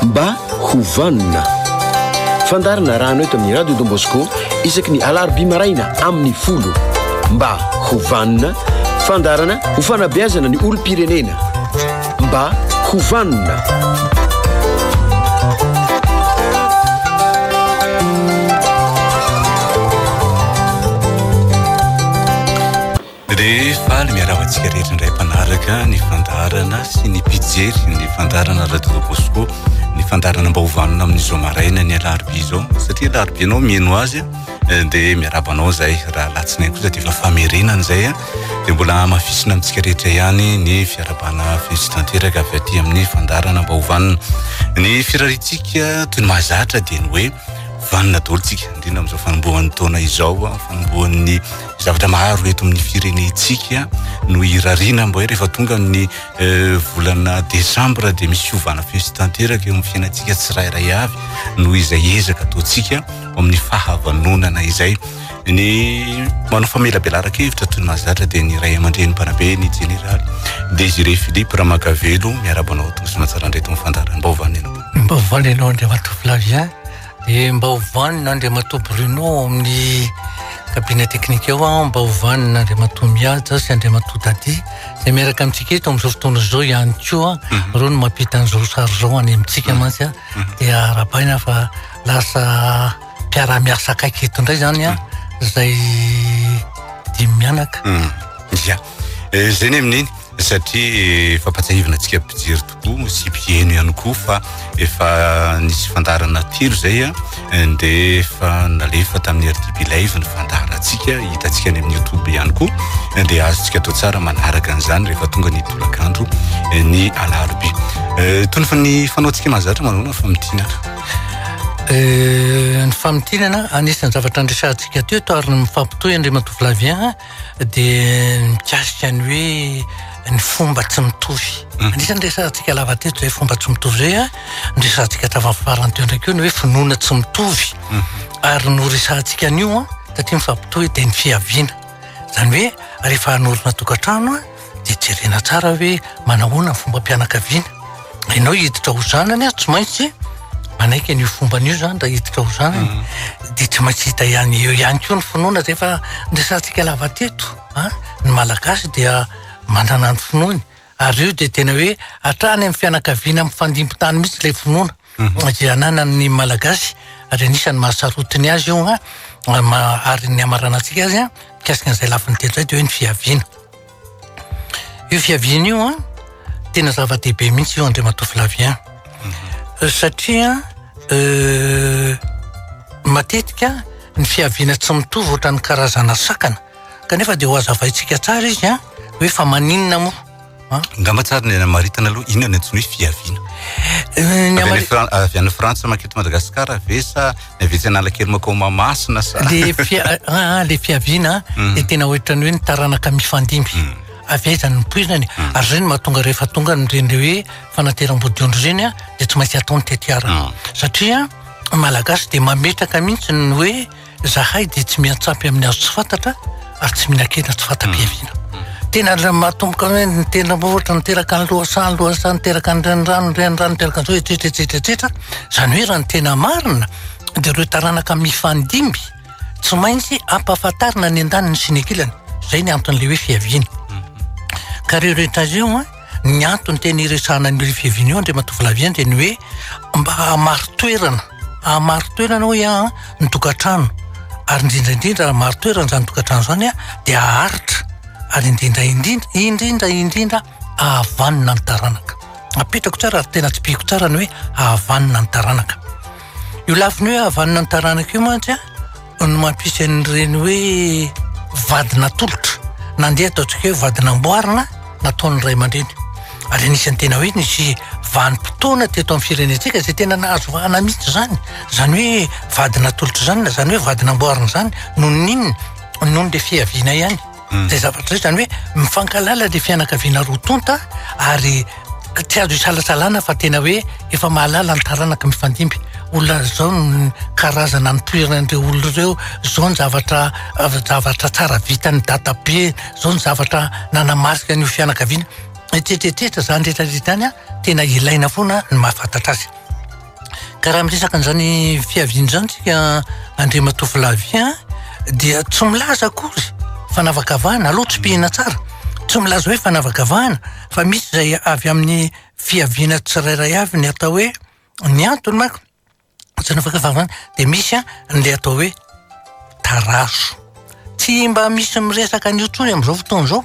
Mba ho vanona. Fandaharana arahana eto amin'ny Radio Don Bosco isaky ny alarobia maraina amin'ny folo. Mba ho vanona. Fandaharana ho fanabeazana ny olom-pirenena. Mba ho vanona. Dia faly miarahaba antsika rehetra indray mpanaraka ny fandaharana sy ny mpijery ny fandaharana Radio Don Bosco ny fandaharana mba hovanona amin'izao maraina ny alarobia izao satria alarobia anao mieno azy eh, dia miarahaba anao izay raha latsinainy kosa dia efa famerenana izay eh. dia mbola hamafisina amintsika rehetra ihany ny fiarabana fetsy tanteraka avy aty amin'ny fandaharana mba hovanona ny firarintsika toy ny mahazatra dia ny hoe vanona daholo tsika indrindra amin'izao fanombohan'ny taona izao fanombohan'ny zavatra maro eto amin'ny firenentsika no irariana mba hoe rehefa tonga amin'ny eh, volana desambra dia misy fiovana fihetsy tanteraka eo amin'ny fiainantsika tsirairay avy noho izay ezaka ataontsika amin'ny fahavanonana izay ny manao famelabelaraka hevitra toy ny mahazatra dia ny ray aman-dreny mpanabe ny jeneraly Désiré Philippe Ramakavelo miarabanao toy ny somatsarandreto amin'ny fandaharam-baovany ianao. Mbaovao lehilahy Andriamatoa Flavien Dia mba ho vanona Andriamatoa Bruno ao amin'ny cabinet technique ao aho, mba ho vanona Andriamatoa Mihaja sy Andriamatoa Dadi, izay miaraka amintsika eto amin'izao fotoana izao ihany koa, mhm. ireo no mampita an'izao sary izao any amintsika mhm. mantsy, mhm. dia arabaina fa lasa mpiara-miasa akaiky eto indray izany, izay dimy mianaka. Ya, eh, izay ny amin'iny, satria eh, fampatsahivina antsika mpijery Koa misy mpiheno ihany koa fa efa nisy fandaharana telo izay a, dia efa nalefa tamin'ny RDB Live ny fandaharantsika, hitantsika any amin'ny YouTube ihany koa, dia azontsika atao tsara manaraka an'izany rehefa tonga ny tolakandro ny alarobia. Eh, Tonofo ny fanaontsika mahazatra manoloana ny famintinana. Eh, Ny famintinana, anisan'ny zavatra niresahantsika teto ary ny mifampitohy Andriamatoa Flavien, dia mikasika ny hoe ny fomba tsy mitovy mhm. anisan'ny resantsika lava teto izay fomba tsy mitovy izay a ny resantsika tafafarany teo ndraiky eo ny hoe finoana tsy mitovy mhm. ary no resantsika an'io a satria mifampitohy dia ny fiaviana izany hoe rehefa hanorina tokantrano a dia jerena tsara hoe manahoana ny fombam-pianakaviana. Ianao hiditra ho zanany aho tsy maintsy manaiky an'io fomba an'io zany raha hiditra ho zanany mm. dia tsy maintsy hita ihany eo ihany koa ny finoana zay fa niresantsika lava teto a ah, ny malagasy dia manana ny finoany ary io dia tena hoe hatrany amin'ny fianakaviana amin'ny fandimpitany mihitsy ilay finoana Mhm. izay ananan'ny malagasy ary anisan'ny mahasarotiny azy io a ah, ma ary ny hamaranantsika azy a ah, mikasika an'izay lafiny telo zay de hoe ny fiaviana io fiaviana io a ah, tena zava-dehibe mihitsy io andriamatoa flavien mhm. satria euh, matetika ny fiaviana tsy mitovy ohatrany karazana sakana kanefa de ho azavaintsika tsara izy a hoe fa maninona moa Angamba tsara ny anamaritana aloha inona ny antsoina hoe fiaviana. Ny amari- Avy any Fra- avy any Frantsa mankeo to Madagasikara ve sa ny avy etsy Analakely mankao Mahamasina sa? le fia- ah, ah, le fiaviana Mm. dia tena ohatran'ny hoe ny taranaka mifandimby Mm. avy aiza ny nipoirany ary zay no mahatonga rehefa tonga ny reny hoe fanateram-bodiondry reny a dia tsy maintsy atao ny tetiara Mm. satria malagasy dia mametraka mihitsy ny hoe Zahay dia tsy miantsampy amin'ny azo tsy fantatra ary tsy mihinan-kena tsy fanta-piaviana. Tena ilay mahatomboka hoe ny tena ohatra niteraka ny lohasaha, ny lohasaha niteraka ny renirano, ny renirano niteraka an'izao etsetra etsetra etsetra. Izany hoe raha ny tena marina dia ireo taranaka mifandimby tsy maintsy ampahafantarina ny andaniny sy ny ankilany. Izay ny anton'ilay hoe fiaviana. Ka ireo rehetra ireo an! Ny antony tena hiresahana an'i Ry Fiviniho Andriamatoa Flavien dia ny hoe mba hahamari-toerana, hahamari-toerana hoy aho ny tokantrano ary indrindra indrindra raha mari-toerana izany tokantrano izany dia haharitra ary indrindra indrindra, indrindra indrindra hahavanona ny taranaka. Apetrako tsara ary tena tsipihiko tsara ny hoe hahavanona ny taranaka. Io lafiny hoe havanana ny taranaka io mantsy an, no mampisy an'ireny hoe vady natolotra, nandeha ataontsika hoe vady namboarina nataon'ny ray aman-dreny. Ary anisan'ny tena hoe nisy vanim-potoana teto amin'ny firenentsika izay tena nahazo vahana mihitsy izany. Izany hoe vady natolotra izany na izany hoe vady namboarina izany, noho ny inona? Noho ny le fiaviana ihany. Zay zavatra zay zany hoe mifankalala le fianakaviana roa tonta ary tsy azo isalasalana fa tena hoe efa mahalala ny taranaka mifandimby olona zao ny karazana nitoeran' ireo olona ireo zao ny zavatra zavatra tsara vitan' ny dadabe zao ny zavatra nanamarika ny ho fianakaviana hetrehetretra zany rehetra rehetra zany a tena ilaina foana ny mahafantatra azy Ka raha miresaka an'izany fiaviana izany tsika Andriamatoa Flavien dia tsy milaza akory fanavakavahana aloha tsipihina tsara tsy milaza hoe fanavakavahana fa misy izay avy amin'ny fiaviana tsirairay avy ny atao hoe ny antony manko tsy fanavakavahana dia misy ny atao hoe tarazo tsy mba misy miresaka an'io intsony amin'izao fotoana izao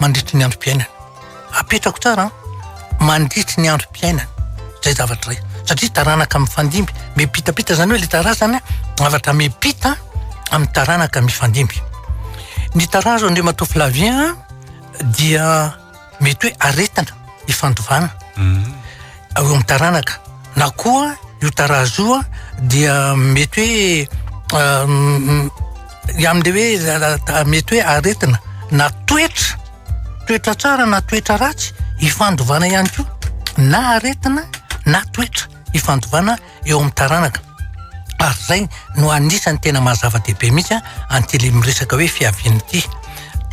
mandritry ny androm-piainana. Apetrako tsara an, mandritry ny androm-piainana izay zavatra izay, satria taranaka mifandimby, miampitampita izany hoe ilay tarazana, zavatra miampita amin'ny taranaka mifandimby. Ny tarazo Andriamatoa Flavien dia mety hoe aretina ifandovana. Mm. ao amin'ny taranaka na koa io tarazo io dia mety hoe amin'ilay hoe mety hoe aretina na toetra toetra tsara na toetra ratsy ifandovana ihany koa na aretina na toetra ifandovana eo amin'ny taranaka ary izay no anisany tena mahazava-dehibe mihitsy an'ity le miresaka hoe fiaviana ity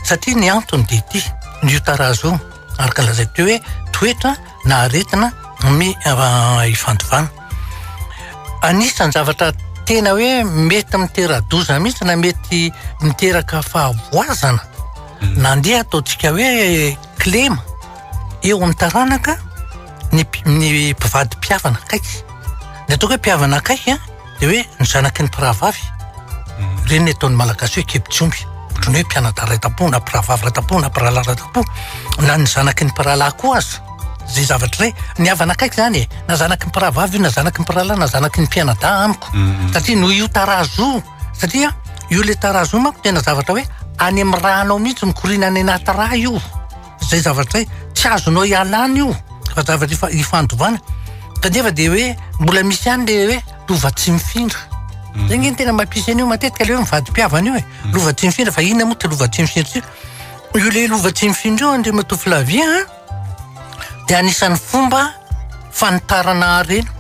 satria ny antony dia ity ny io tarazo io ary ka lazay teo hoe toetra na aretina mi ifandovana anisany zavatra tena hoe mety mitera-doza mihitsy na mety miteraka fahavoazana nandeha ataontsika hoe klema eo amin'ny taranaka ny ny mpivady mpihavana akaiky. Ny ataoko hoe mpihavana akaiky an, dia hoe ny zanaky ny mpirahavavy. Mhm. Ireny ny ataon'ny Malagasy hoe kibotry omby, ohatran'ny hoe mpianadahy iray tam-po na mpirahavavy iray tam-po na mpirahalahy iray tam-po, na ny zanaky ny mpirahalahy koa aza. Izay zavatra izay, ny havana akaiky izany e, na zanaky ny mpirahavavy io na zanaky ny mpirahalahy na zanaky ny mpianadahy amiko, mhm. satria noho io tarazo io, satria io le tarazo io manko tena zavatra hoe any amin'ny ra anao mihitsy mikoriana any anaty ra io. izay zavatra hoe tsy azonao ialana io fa zavatra ifa- ifandovana kanefa dia hoe mbola misy ihany le hoe lova tsy mifindra zay nge ny tena mampisy an'io matetika le hoe mivadi-pihavana io e lova tsy mifindra fa inona moa ty lova tsy mifindra ty io le lova tsy mifindra io andriamatoa filavia a dia anisan'ny fomba fanitarana harena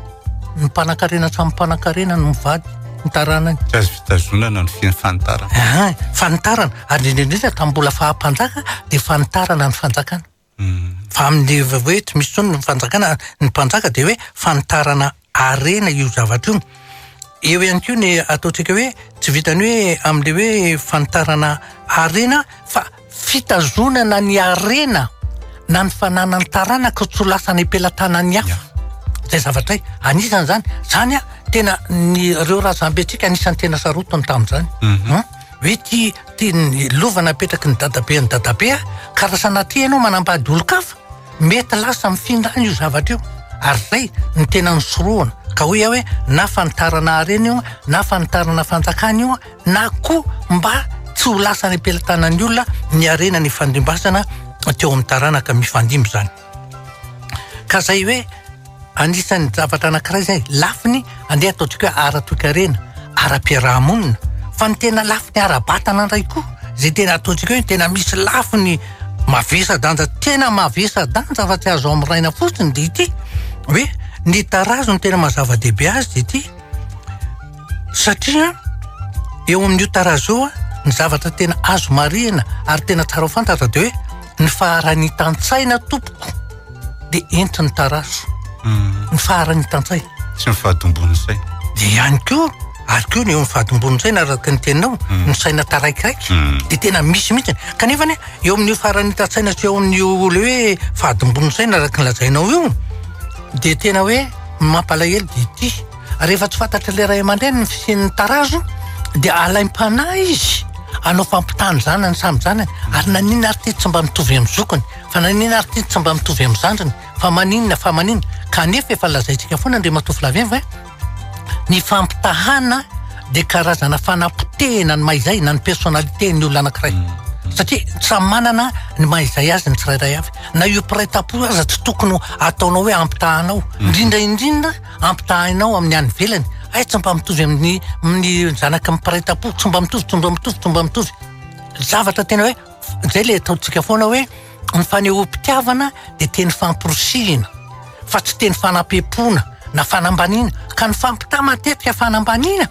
Ny mpanankarena samy mpanankarena no mivady ny taranany. Tsy azo fitazonana ny fiain'ny fanitarana. Aha, fanitarana. Ary indrindra tamin'ny mbola faha-mpanjaka dia fanitarana ny fanjakana. Hmm. Fa amin'ny hoe tsy misy intsony ny fanjakana, ny mpanjaka dia hoe fanitarana harena io zavatra io. Eo ihany koa ny ataontsika hoe tsy vitan'ny hoe amin'ilay hoe fanitarana harena fa. Fitazonana ny harena na ny fananan'ny taranaka tsy ho lasa any am-pelatanan'ny hafa. Izay zavatra hay. Anisany izany. Izany an, tena ny ireo razambentsika anisany tena sarotiny tamin'izany. An? Hoe ty, ty ny lova napetraky ny dadabe an'i dadabe an, ka raha sanatria ianao manambady olon-kafa, mety lasa mifindra any io zavatra io. Ary izay no tena nisorohana. Ka hoy aho hoe na fanitarana harena io an, na fanitarana fanjakana io an, na koa mba tsy ho lasa any am-pelatanan'ny olona ny harena nifandrimbasana teo amin'ny taranaka mifandimby izany. Ka izay hoe anisan'ny zavatra anankiray izay lafiny andeha ataontsika hoe ara-toekarena, ara-piarahamonina, fa ny tena lafiny ara-batana indray koa izay tena ataontsika hoe tena misy lafiny mavesa-danja tena mavesa-danja fa tsy azo amiraina fotsiny dia ity hoe ny tarazo no tena maha zava-dehibe azy dia ity Satria eo amin'io tarazo io ny zavatra tena azo marihina ary tena tsara ho fantatra dia hoe ny faharanitan-tsaina tompoko dia entin'ny tarazo. Hmm. Ny faharanitan-tsaina. Sy ny fahadimbon'ny saina. Dia ihany koa ary koa ny eo amin'ny fahadimbon'ny saina araka ny teninao hmm. ny saina taraikiraiky hmm. dia tena misy mihitsy kanefa ne eo amin'io faharanitan-tsaina sy eo amin'io le hoe fahadimbon'ny saina araka ny lazainao io dia tena hoe mampalahelo dia ity Rehefa tsy fantatr'ilay ray aman-dreny ny fisian'ny tarazo dia alaim-panahy izy hanao fampitana ny zanany samy zanany ary naninona ary ity tsy mba mitovy amin'ny zokiny fa naninona ary ity tsy mba mitovy amin'ny zandriny fa maninona fa maninona kanefa efa lazaintsika foana Andriamatoa Flavien hoe ny fampitahana dia karazana fanapotehina ny mahizay na ny personnalité ny olona anankiray hmm. satria samy manana ny mahizay azy ny tsirairay avy na io mpiray tampo aza tsy tokony ataonao hoe ampitahanao hmm. indrindra indrindra Ampitahainao amin'ny any ivelany, aitso mba mitovy amin'ny ny zanaky ny mpiray tampo, tsy mba mitovy, tsy mba mitovy, tsy mba mitovy. Zavatra tena hoe, izay le ataontsika foana hoe, ny fanehoam-pitiavana dia teny famporisihina, fa tsy teny fanampiam-poana na fanambaniana. Ka ny fampitaha matetika fanambaniana,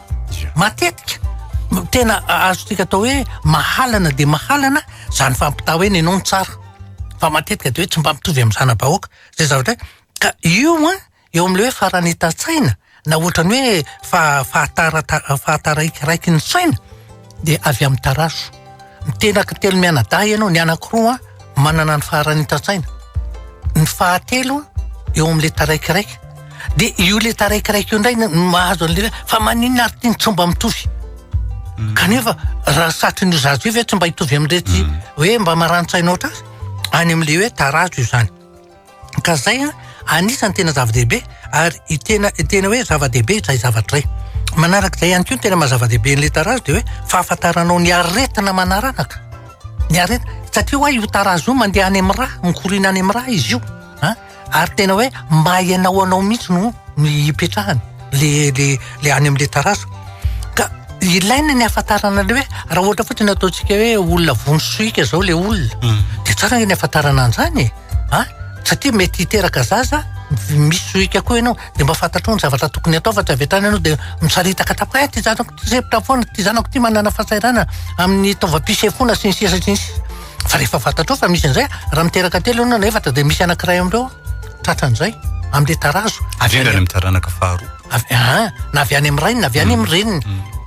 matetika. Tena azontsika atao hoe mahalana dia mahalana izany fampitaha hoe nenao no tsara. Fa matetika dia hoe tsy mba mitovy amin'ny zana-bahoaka. Izay zavatra hoe, ka io an. Eo amin'ilay hoe faran'ita-tsaina na ohatran'ny hoe faha-fahatara- fahataraikiraikin'ny saina dia avy amin'ny tarazo. Mitenaky telo mianadahy ianao, ny anankiroa manana ny faharan'ita-tsaina, ny fahatelo eo amin'ilay taraikiraiky. Dia io ilay taraikiraiky io indray no mahazo an'ilay hoe fa maninona ary ity no tsy mba mitovy? Kanefa raha satrin'io zaza io ve tsy mba hitovy amin'iretsy hoe mba marani-tsaina hoatr'azy? Any amin'ilay hoe tarazo izany. Ka izay anisan'ny tena zava-dehibe ary io tena tena hoe zava-dehibe izay zavatra izay. Manarak'izay ihany koa ny tena maha-zava-dehibe an'ilay tarazo dia hoe fahafantaranao ny aretina manaranaka. Ny aretina satria ho'a io tarazo io mandeha any amin'ny ra, mikoriana any amin'ny ra izy io an! ary tena hoe maha ianao anao mihitsy no no ipetrahany le le le any amin'ilay tarazo. Ka ilaina ny hahafantarana an'ilay hoe raha ohatra fotsiny ataontsika hoe olona vono sohika izao ilay olona dia tsara ny hahafantarana an'izany e! A, satria mety hiteraka zaza misy sohika koa ianao dia mba fantatrao ny zavatra tokony atao fa tsy avy hatrany ianao dia misaritaka tamin'ny hoe ity zanako ity sempotra foana, ity zanako ity manana fahasahiranana amin'ny taovam-pisefoana sy ny sisa sy ny sisa. Fa rehefa fantatrao fa misy an'izay, raha miteraka telo ianao na efatra dia misy anankiray amin'ireo tratran'izay amin'ilay tarazo. Indrindra any amin'ny taranaka faharoa. Avy an, na avy any amin'ny rainy na avy any amin'ny reniny.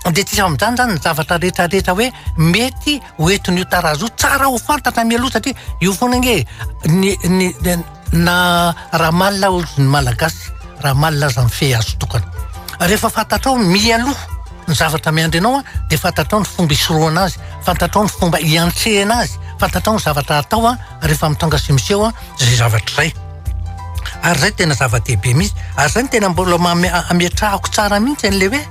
Dia tsy iza amin'izany izany ny zavatra rehetra rehetra hoe mety ho entin'io tarazo io tsara ho fantatra mialoha satria io foana ange ny ny na raha malina ny malagasy raha malina aza mifehy azy tokana rehefa fantatrao mialoha ny zavatra miandry anao de fantatrao ny fomba hisorohana azy fantatrao ny fomba hiantrehana azy fantatrao ny zavatra atao rehefa mitondra sy miseho izay zavatra izay Ary izay tena zava-dehibe mihitsy. Ary izay no tena mbola ametrahako tsara mihitsy an'ilay hoe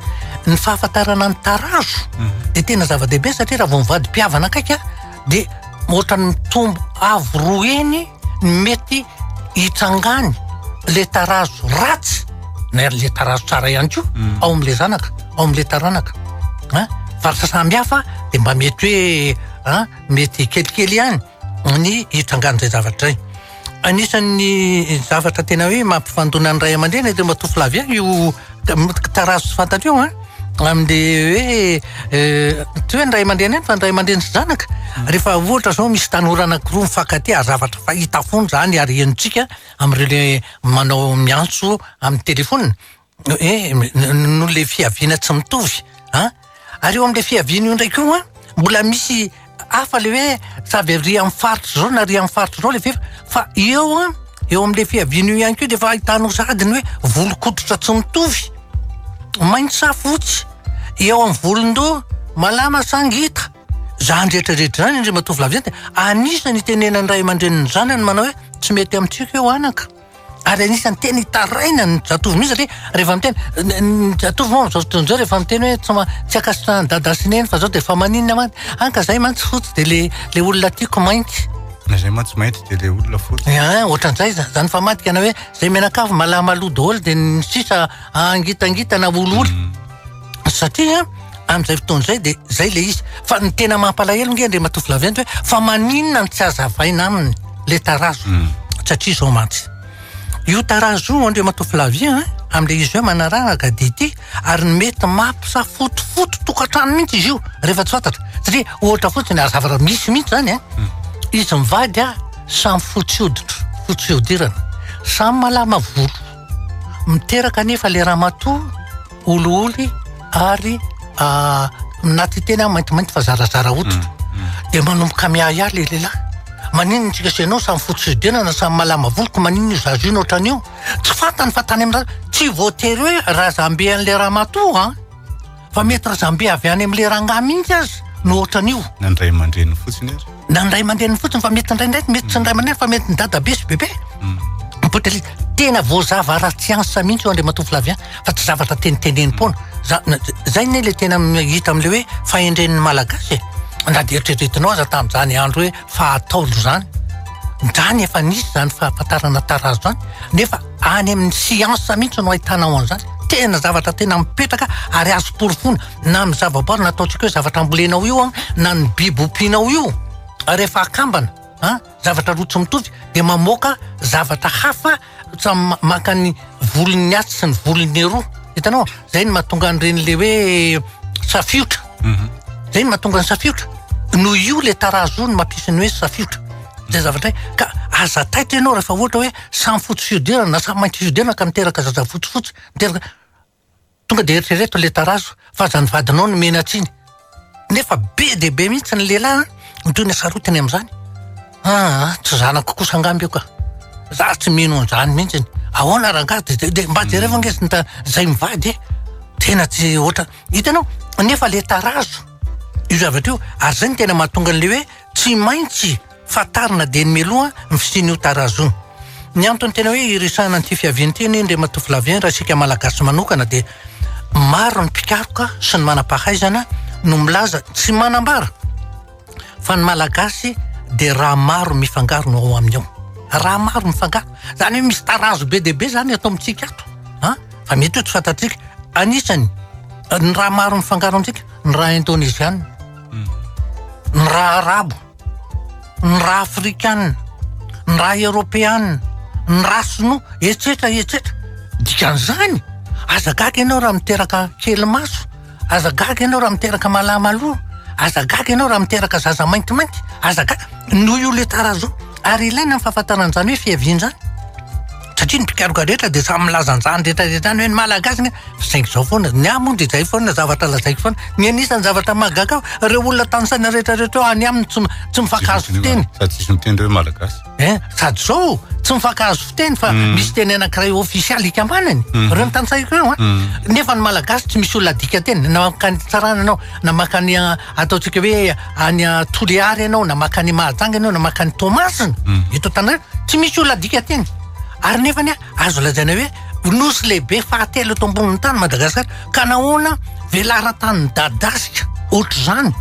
ny fahafantarana ny tarazo mhm. dia tena zava-dehibe satria raha vao mivady mpihavana akaiky dia ohatra ny mitombo avo roa eny ny mety hitrangany le tarazo ratsy na ary le tarazo tsara ihany koa mhm. ao amin'ilay zanaka ao amin'ilay taranaka faritra samihafa dia mba mety hoe mety kelikely ihany ny hitrangan'izay zavatra izay. Anisan'ny zavatra tena hoe mampifandona ny ray aman-dreny ireo matofolavy ihany io tarazo tsy fantatr'io an. Amin'le hoe euh, tsy hoe ny ray aman-dreny ihany fa ny ray aman-dreny sy zanaka. Mm. Rehefa ohatra izao misy tanora anankiroa mifankatia, zavatra fahita foana izany ary henontsika amin'ireo le manao miantso amin'ny telefaonina. Eh, noho ilay fiaviana tsy mitovy an! Ary eo amin'ilay fiaviana io indray koa an, mbola misy hafa ilay hoe tsy avy ary amin'ny faritra izao na ary amin'ny faritra izao ilay fefy fa eo an, eo amin'ilay fiaviana io ihany koa dia efa ahitanao sahady ny hoe volon-koditra tsy mitovy, mainty sa fotsy, eo amin'ny volon-doha, malama sa ngita. Izany rehetrarehetra izany, ry matoa Flavien, dia anisan'ny itenenan'ny ray aman-drenin'ny zanany manao hoe tsy mety amintsika io anaka. Ary anisan'ny tena hitaraina ny zatovo mihitsy satria rehefa miteny ny- ny zatovo moa amin'izao fotoana izao rehefa miteny hoe tsy ma- tsy ankasitrahan'i dada sy neny fa zao dia efa maninona mantsy. Hany ka zahay mantsy fotsy dia le le olona tiako mainty. Na zay mantsy mainty dia le olona fotsy. Ehe, ohatran'izay iza- izany famadika na hoe zay mianakavy malamalou daholo dia ny sisa angitangitana olioly. Satria amin'izay fotoana izay dia izay ilay izy. Fa ny tena mampalahelo ange Andriamatoa Flavien dia hoe fa maninona no tsy azavaina aminy ilay tarazo. Hmm. Satria izao mantsy. Io tarazo io Andriamatoa Flavien eh, amin'ilay izy hoe manararaka dia ity ary ny mety mampisafotofoto tokantrano mihitsy izy io rehefa tsy fantatra. Satria ohatra fotsiny ary zavatra misy mihitsy izany eh. Hmm. Izy mivady ah, samy fotsy hoditra, fotsy fihodirana, samy malama volo. Miteraka anefa le ramatoa olioly ary ah, anaty teny aho maintimainty fa zarazara hoditra. Mm, mm. Dia manomboka miahiahy le lehilahy. Maninona antsika sy ianao samy fotsy fihodirana na samy malama volo ko maninona io zaza io no ohatran'io? Tsy fantany fa tany amin'ny ra- tsy voatery hoe razambe an'ilay ramatoa an! Fa mety razambe avy any amin'ilay rangahy mihitsy aza no ohatran'io. Na ny ray aman-dreniny fotsiny ary. Na ny ray aman-dreniny fotsiny fa mety indraindray mety tsy ny ray aman-dreniny fa mety ny dadabe sy bebe. Mm. Potelita, tena voazava ara-tsiansa mihitsy io Andriamatoa Flavien fa tsy zavatra tenitenenim-poana. Za- na- Zay anie le tena hita amin'ilay hoe fahendren'ny Malagasy e. Na dia eritreretinao aza tamin'izany andro hoe fa ataondry zany zany efa nisy zany fahafantarana tarazo zany nefa any amin'ny science mihitsy no ahitana ao an'izany tena zavatra tena mipetraka ary azo porofoina na amin'ny zavaboary na ataontsika hoe zavatra ambolenao io an na ny biby ompianao io rehefa akambana an zavatra roa tsy mitovy dia mamoaka zavatra hafa Tsa maka ny volon'ny atsy sy ny volon'ny eroa. Hitanao? Zay no mahatonga an'ireny le hoe safiotra. Mhm. Zay no mahatonga ny safiotra. No io le tarazo no mampisy ny hoe safiotra. Zay zavatra hoe ka aza taitra ianao rehefa ohatra hoe samy fotsy fihodirana na samy mainty fihodirana ka miteraka zaza fotsifotsy, miteraka Tonga dia eritrereto ilay tarazo fa zany vadinao no menatsiny. Nefa be dia be mihitsy ny lehilahy an, ny toy ny hasarotiny amin'izany. Aa, tsy zanako kosa angamba io ka. Za tsy mino an'izany mihitsy. Ahoana rangahy de de de mba jereo ange zn ta zay mivady e. Tena tsy ohatra. Hitanao? Nefa le tarazo. Io zavatra io ary zay no tena mahatonga an'le hoe. Tsy maintsy fantarina dieny mialoha ny fisian'io tarazo io. Ny antony tena hoe iresahana an'ity fiaviany ity anie Andriamatoa Flavien raha isika Malagasy manokana dia maro ny mpikaroka sy ny manam-pahaizana no milaza tsy manambara fa ny Malagasy dia rà maro mifangaro no ao aminy ao. Rà maro mifangaro. Izany hoe misy tarazo be dia be izany ato amintsika ato an! Fa mety ho tsy fantatsika. Anisany ny rà maro mifangaro amintsika ny rà indoneziana. ny ra arabo, ny ra afrikana, ny ra eropeana, ny ra sinoa, etsetra etsetra. Dikan'izany, aza gaga ianao raha miteraka kely maso, aza gaga ianao raha miteraka malama loha, aza gaga ianao raha miteraka zaza maintimainty, aza gaga. Noho io le tarazo. Ary ilaina ny fahafantarana an'izany hoe fiaviana izany. satria ny mpikaroka rehetra dia samy milaza an'izany rehetra rehetra izany hoe ny Malagasy nge fa saingy izao foana, ny ahy moa dia izay foana zavatra lazaiko foana, ny anisan'ny zavatra mahagaga ahy fa ireo olona tanisaina rehetra rehetra eo any aminy tsy tsy mifankahazo fiteny, sady tsisy miteny hoe Malagasy eh, sady izao tsy mifankahazo fiteny fa mm. misy teny anankiray ofisialy hikambanany mm. ireo ny tanisaiko eo an, ah. mm. nefa ny Malagasy tsy misy olona adika teny na makany tsarana anao na makany Ataontsika hoe any Toliary ianao na makany Mahajanga ianao na makany Toamasina hmm. eto Antananarivo tsy misy olona adika teny ary nefa ny azo lazaina hoe nosy lehibe fahatelo eto ambonin'ny tany Madagasikara ka nahoana velaran-tany midadasika ohatr'izany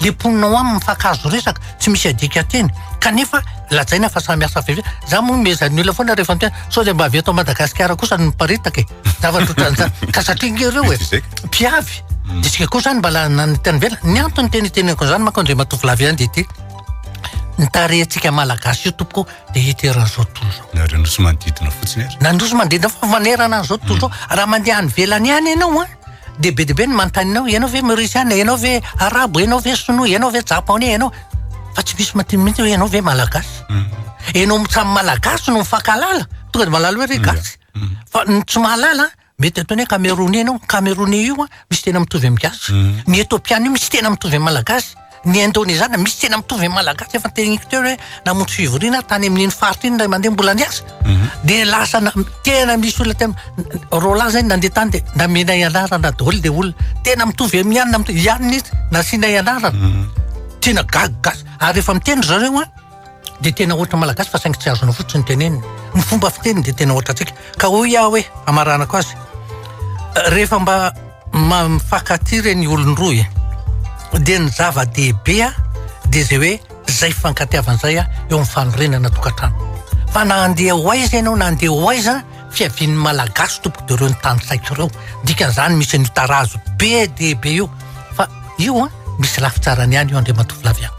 le mponina ao aminy fakazo resaka tsy misy adika teny kanefa lazaina fa samy asa veve za moa mezan'ny olona foana rehefa miteny sao dia mba avy eto Madagasikara kosa ny miparitaka e zavatra ohatran'izany ka satria nge ireo e mpiavy mm. disika koa zany mbala nany tany vela ny antony teny teneko zany mako andre matovolavy ihany de ty ny tarehantsika malagasy io tompoko de hiteran'izao tozo nareo nosy manodidina fotsiny ary na nosy manodidina fa manerana an'izao tozo mm. raha mandeha any velany any ianao a de be de be ny mantaninao ianao ve maurisiana ianao ve arabo ianao ve sinoa ianao ve japonais ianao fa tsy misy matiny mihitsy hoe ianao ve malagasy mm. ianao samy malagasy no mifankalala tonga de malala hoe re gasy Fa ny tsy mahalala an, mety ataony hoe kameroney ianao, ny kameroney io an, misy tena mitovy amin'ny gasy, ny etopiana io misy tena mitovy amin'ny malagasy, ny indonezana misy tena mitovy amin'ny malagasy, efa noteneniko teo hoe namonjy fivoriana aho tany amin'iny faritra iny indray mandeha mbola niasa, dia lasa na- tena misy olona tena Roland izay nandeha tany dia namenay anarana daholo ilay olona, tena mitovy amin'ny anona, mitovy ihany ny izy, nasianay anarana, tena gaga gasy, ary rehefa miteny ry zareo an, dia tena hoatra malagasy fa saingy tsy azonao fotsiny tenenina. Ny fomba fiteniny dia tena hoatra antsika. Ka hoy aho hoe, hamaranako azy, rehefa mba mifankatia ireny olon-droa e, dia ny zava-dehibe dia izay hoe izay fifankatiavana izay eo amin'ny fanorenana tokantrano. Fa na handeha ho aiza ianao na handeha ho aiza, Fiavian'ny Malagasy tompoko dia ireo ny tanisaiko ireo. Dikan'izany misy an'io tarazo be dia be io. Fa io an, misy lafy tsarany ihany io Andriamatoa Flavien.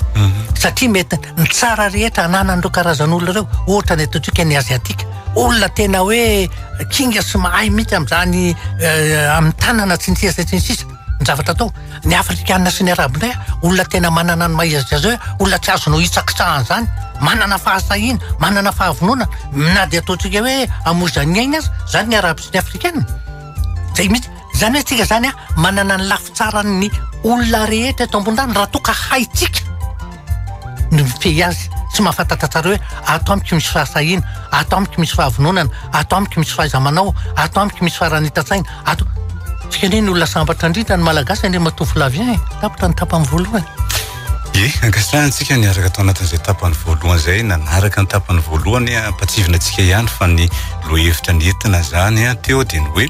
Satria mety ny tsara rehetra ananan'ireo karazan'olona ireo, ohatra ny ataontsika ny Aziatika, olona tena hoe kinga sy mahay mihitsy amin'izany amin'ny tanana sy ny sisa sy ny sisa. Ny zavatra atao, ny afrikana sy ny arabonay olona tena manana ny maha izy azy, olona tsy azonao hitsakitsahana izany, manana fahasahiana, manana fahavononana, na dia ataontsika hoe amozan'ny ainy aza, izany ny arabo sy ny afrikana, izay mihitsy, izany hoe tsika izany manana ny lafitsaran'ny olona rehetra eto ambonin'ny tany raha toa ka haintsika. no mifehy azy tsy mahafantatatrareo hoe ato amiko misy fahasahiana ato amiko misy fahavononana ato amiko misy fahaizamanao ato amiko misy faranita-tsaina ato tsika anie ny olona sambatra indrindra ny malagasy anie matoa volavien eh. tapitra ny tapany voalohany e ankasitrahantsika ny araka tao anatin'izay tapany voalohany izay nanaraka ny tapany voalohany ampatsivina antsika ihany fa ny lohahevitra ny entina zany teo dia ny hoe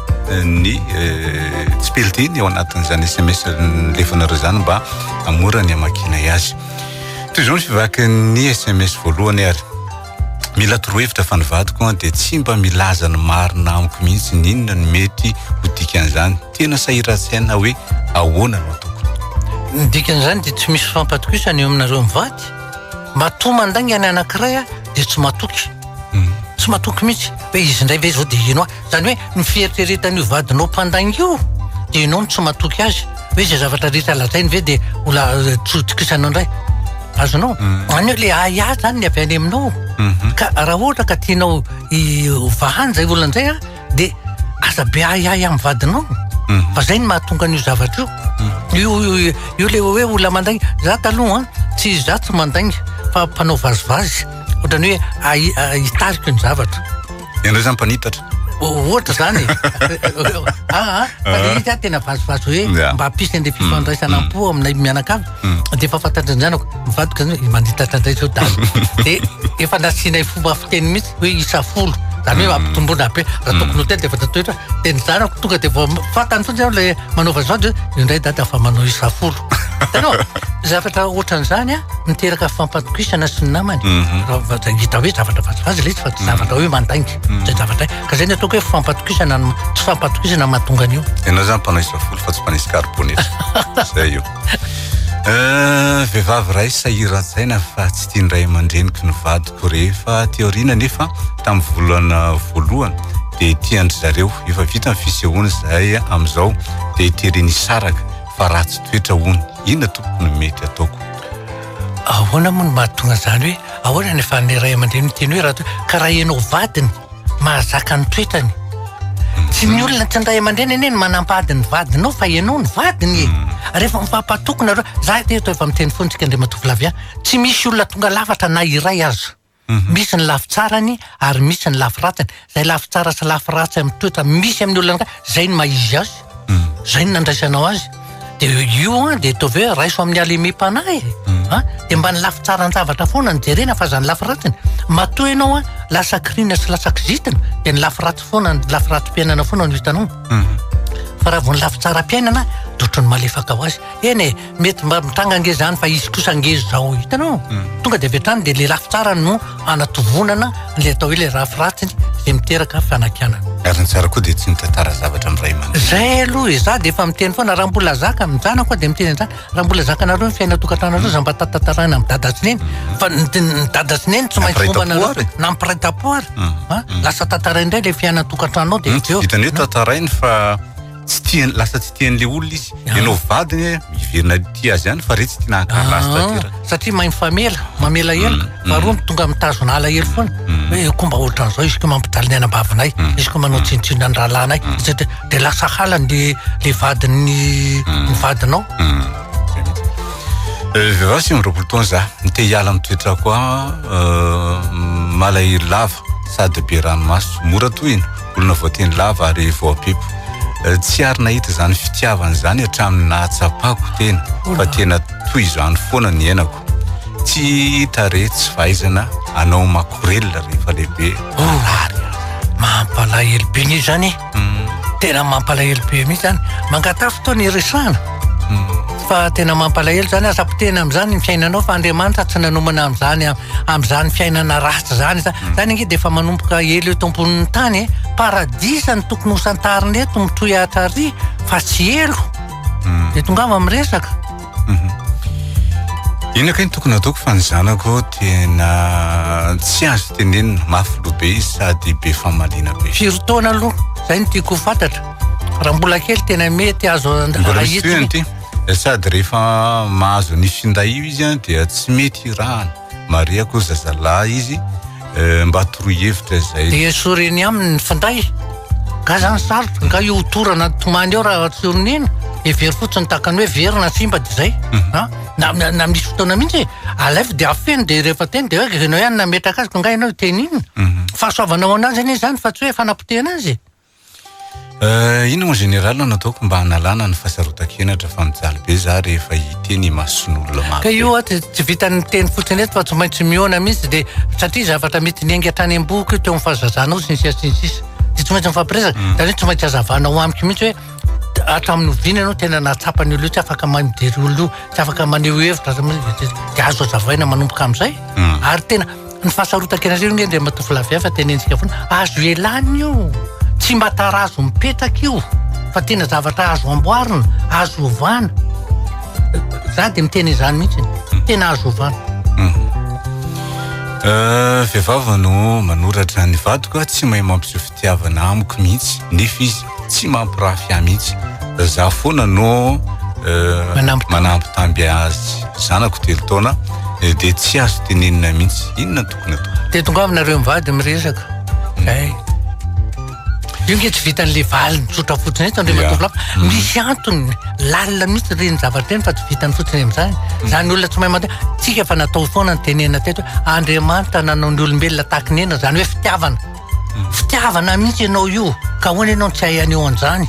ny tsipelidiny eo anatin'izany sms lefanareo izany mba amora ny amakinay azy toy izao ny fivaky ny sms voalohany ary mila torohevitra fa ny vadiko an dia tsy mba milaza ny marina amiko mihitsy ny inona ny mety ho dikan'izany tena sahiran-tsaina hoe ahoana no tokony ny dikan'izany dia tsy misy fampatokisana eo aminareo mivady matoa mandainga ny anankiray dia tsy matoky hmm. tsy matoky mihitsy hoe izy indray ve izao dia ino aho Izany hoe ny fieritreretan'io vadinao mpandainga io dia ianao no tsy matoky azy. Hoe izay zavatra rehetra lazainy ve dia ho la- eh, tsy hotokisanao indray. Azonao? Izany hoe le ahiahy izany ny avy any aminao. Ka raha ohatra ka tianao i- ho vahany izay olona izay an, dia aza be ahiahy amin'ny vadinao. Fa izay no mahatonga an'io zavatra io. Io io- io le hoe olona mandainga. Za taloha an, tsy za tsy mandainga fa mpanao vazivazy. Ohatran'ny hoe ahi- ah, hitariko ny zavatra. Ianareo zany mpanitatra. Ohatra zany e. Ah, ah, fa le izy ah, tena vazovazo hoe Yeah. mba hampisy an'ilay fifandraisana am-po aminay mianakavy. Dia efa fantatry ny zanako, mivadika zany hoe manditatra indray zao dago. Dia efa nasianay fomba fiteny mihitsy hoe isa folo. Zany hoe ampitomboana be. Raha tokony ho telo dia efa tatoetra. Dia ny zanako tonga dia vao fantany fotsiny aho ilay manao vazovazo hoe io indray dada fa manao isa folo. Hitanao? Zavatra ohatran'izany an, miteraka fampatokisana sy ny namany. Mhm. Raha va- dia hita hoe zavatra vazivazy ilay izy fa tsy zavatra hoe mandainga. Mhm. Tsy zavatra ka izay no ataoko hoe fampatokisana no- tsy fampatokisana no mahatonga an'io. Ianao zany mpanao isa folo fa tsy mpanao iscarbonate. Zay io. Eh, Vehivavy iray sahiran-tsaina fa tsy tian'ny ray aman-dreniko ny vadiko rehefa aty aoriana nefa tamin'ny volana voalohany dia tian-dry zareo efa vita ny fisehoana izay amin'izao dia teren'ny saraka fa ratsy toetra hono. Inona tompoko no mety ataoko? Ahoana moa no mahatonga izany hoe ahoana ny efan'ny ray aman-dreny miteny hoe ratsy toetra ka raha ianao vadiny mahazaka ny toetrany. Mhm. Tsy ny olona tsy ny ray aman-dreny anie no manampahady ny vadinao fa ianao ny vadiny e. Mhm. Ary efa mifampatoky nareo. Za eto efa miteny foana antsika Andriamatoa Flavien. Tsy misy olona tonga lafatra na iray aza. Misy ny lafy tsarany ary misy ny lafy ratsiny. Izay lafy tsara sy lafy ratsy amin'ny toetra misy amin'ny olona anankiray, izay no maha izy azy. Izay no nandraisanao azy. Dia io an, dia ataovy hoe raiso amin'ny halemem-panahy e. An? Dia mba ny lafy tsaran-javatra foana no jerena fa aza ny lafy ratsiny. Matoa ianao an, lasa kiriana sy lasa kizitina, dia ny lafy ratsy foana, ny lafy ratsim-piainana foana no hitanao. Fa raha vao ny lafy tsaram-piainana, dia ohatran'ny malefaka ho azy. Eny e. Mety mba mitranga ange zany fa izy kosa ange zao hitanao tonga de avy hatrany de le lafy tsara no anatovonana le atao hoe le rafy ratsy zay miteraka fanakianana ary ny tsara koa de tsy mitantara zavatra amin'ny ray aman zay aloha e za de efa miteny foana raha mbola zaka ny zanako de miteny an'zany raha mbola zakanareo ny fiaina tokantranareo za mba tatantaraina amin'ny dada sy neny fa ny dada sy neny tsy maintsy momba anareo nampiray tam-po ary lasa tantaraina indray le fiaina tokantrano ao de hitan'ny hoe tantarainy fa tsy tiany lasa tsy tian'le olona izy ah. ianao vadiny eh, miverina tia azy any fa re tsy tia nahakarina azy taty ah. satria mahay mifamela mamela mm, ela mm. faharoa tonga mitazona alahelo foana mm. hoe eh, komba ohatran'izao izy ko mampijaly ny anam-bavinay izy ko manao tsinontsinona ny rahalahinay dia lasa halany le le vadin'ny ny vadinao vehivavy eh, sy miroapolo taona za ny te hiala amin'ny toetra koa eh, malahery lava sady be ranomaso mora tohina olona voatendry lava ary voapepo. Eh, tsy ary nahita izany fitiavana izany hatramin'ny nahatsapako tena fa tena toy izany foana ny enako tsy hita re tsy fahaizana anao makorelina rehefa lehibe orary oh, mampalahelo be ny zany hmm. tena mampalahelo be mihitsy zany mangatafo fotoana iresahana hmm. fa tena mampalahelo zany aza potena am'izany ny fiainanao fa andriamanitra tsy nanomana am'izany amin'izany fiainana ratsy izany za zany ange dia efa manomboka ela eto ambonin'ny tany e paradisa ny tokony ho santarina eto mitohy hatrary fa tsy elo hmm. dia tongava amin'ny resaka hmm. ina kay ny tokony ataoko fa ny zanako tena tsy azo tenenina mafy loha be izy sady be famaliana be firy taona aloha zay no tiako ho fantatra raha mbola kely tena mety azo ahitsy Sady rehefa mahazo ny finday io izy an dia tsy mety hirahana. Marihako zazalahy izy eh, mba toroy hevitra izay. Dia soreny aminy ny finday. Nga zany sarotra, nga io torana tomany eo raha tsy oronena, hevero fotsiny tahaka ny hoe very na simba dia izay. Mhm. Ah, na, na, na misy fotoana mihitsy e, alaivo dia afeno dia rehefa teny dia hoe ianao ihany nametraka azy, ko nga ianao hiteny inona? Mhm. Fahasoavana ho anazy anie izany fa tsy hoe fanapotehana azy e. Euh, inona mon général no nataoko mba hanalana ny fahasarotan-kenatra fa mijaly be za rehefa hiteny imason'olona maro. Ka io aho tsy vitan'ny miteny fotsiny eto fa tsy maintsy mihaona mihitsy dia satria zavatra mety niainga hatrany am-boko io teo amin'ny fahazazanao sy ny sisa sy ny sisa. Dia tsy maintsy mifampiresaka, mm. izany hoe tsy maintsy hazavanao amiko mihitsy hoe hatramin'ny oviana ianao tena nahatsapa ny olona io tsy afaka mahay mijery olona io, tsy afaka maneho hevitra, dia azo hazavaina manomboka amin'izay. Mm. Ary tena Ny fahasarotan-kenareo anie ry ramatoavilahy vy fa tenentsika foana, azo ialana io, tsy mba tarazo mipetraka io fa tena zavatra azo amboarina, azo ovana. Za dia miteny izany mihitsy, hmm. tena azo ovana. Hmm. Euh, vehivavy no manoratra ny vadiko tsy mahay mampiseho tiavana amiko mihitsy nefa izy tsy mampirafy ahy mihitsy za foana no euh, manampy tamby azy zanako telo taona eh, dia tsy azo tenenina mihitsy inona tokony atao dia tongavinareo mivady miresaka mm. ay io nge tsy vitan'le valiny tsotra fotsiny eto andriamatoa mm. misy antony lalina mihitsy reny zavatra reny fa tsy vitany fotsiny am'zany mm. zany olona tsy mahay mande tsika fa natao foana ny tenena teto andriamanitra nanao ny olombelona tahaka ny ena zany hoe fitiavana Fitiavana mihitsy ianao io ka ahoana ianao no tsy hay haneho an'izany?